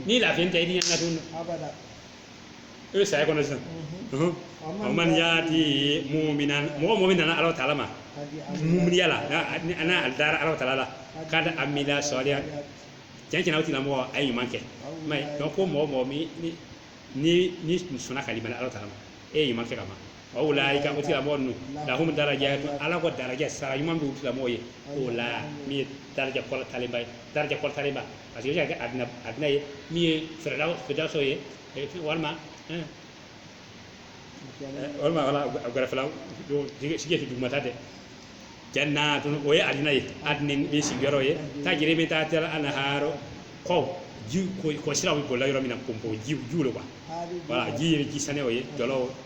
ni lafiya tɛ i tɛ ɲɛnama e bɛ saya kɔnɔ sisan Ɔhɔn. wa man yaati muminan mɔgɔ mɔgɔ min nana ala taala ma muminiya la n'a- ni- n'a dara ala taala la qad amila solihati cɛn cɛn na o tigila mɔgɔ a ye ɲuman kɛ i m'a ye donc ko mɔgɔ mɔgɔ min ni ni ni sɔnna ka limaniya ala taala ma a ye ɲuman kɛ ka ban wa ulaika o tigilamɔgɔ ninnu lahum darajatu ala ko daraja sara ɲuman b'u tigilamɔgɔ ye ula min ye daraja kɔrɔtalenba ye daraja kɔrɔtalenba parce que o bɛ se ka kɛ adina adina ye min ye firdaw firdawsu ye eh, walima eh, eh, walima wala a gɛrɛfɛla don sigi ti dugumata dɛ jannatun o ye adina ye adnin bɛ sigiyɔrɔ ye tajri min tahtiha anharu kɔw ji kɔ kɔsiraw bɛ boli la yɔrɔ min na pɔnpɔ ji jiw lo quoi voilà ji ye ji sanɛw ye jɔlɔw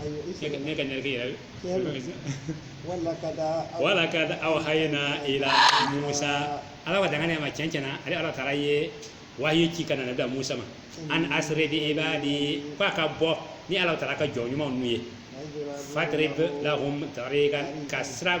ayo isa ne ka ne ka nyarke yɛrɛ Yɛrɛ. wa laqad awhayna ila musa a lɔn ka dangane ma cɛn cɛn na ale ala taala ye wahiyi ci ka na nabila musa ma an asri bi ibadi ko a ka bɔ ni ala taala ka jɔn ɲumanw ninnu ye fadrib lahum tariqan ka sira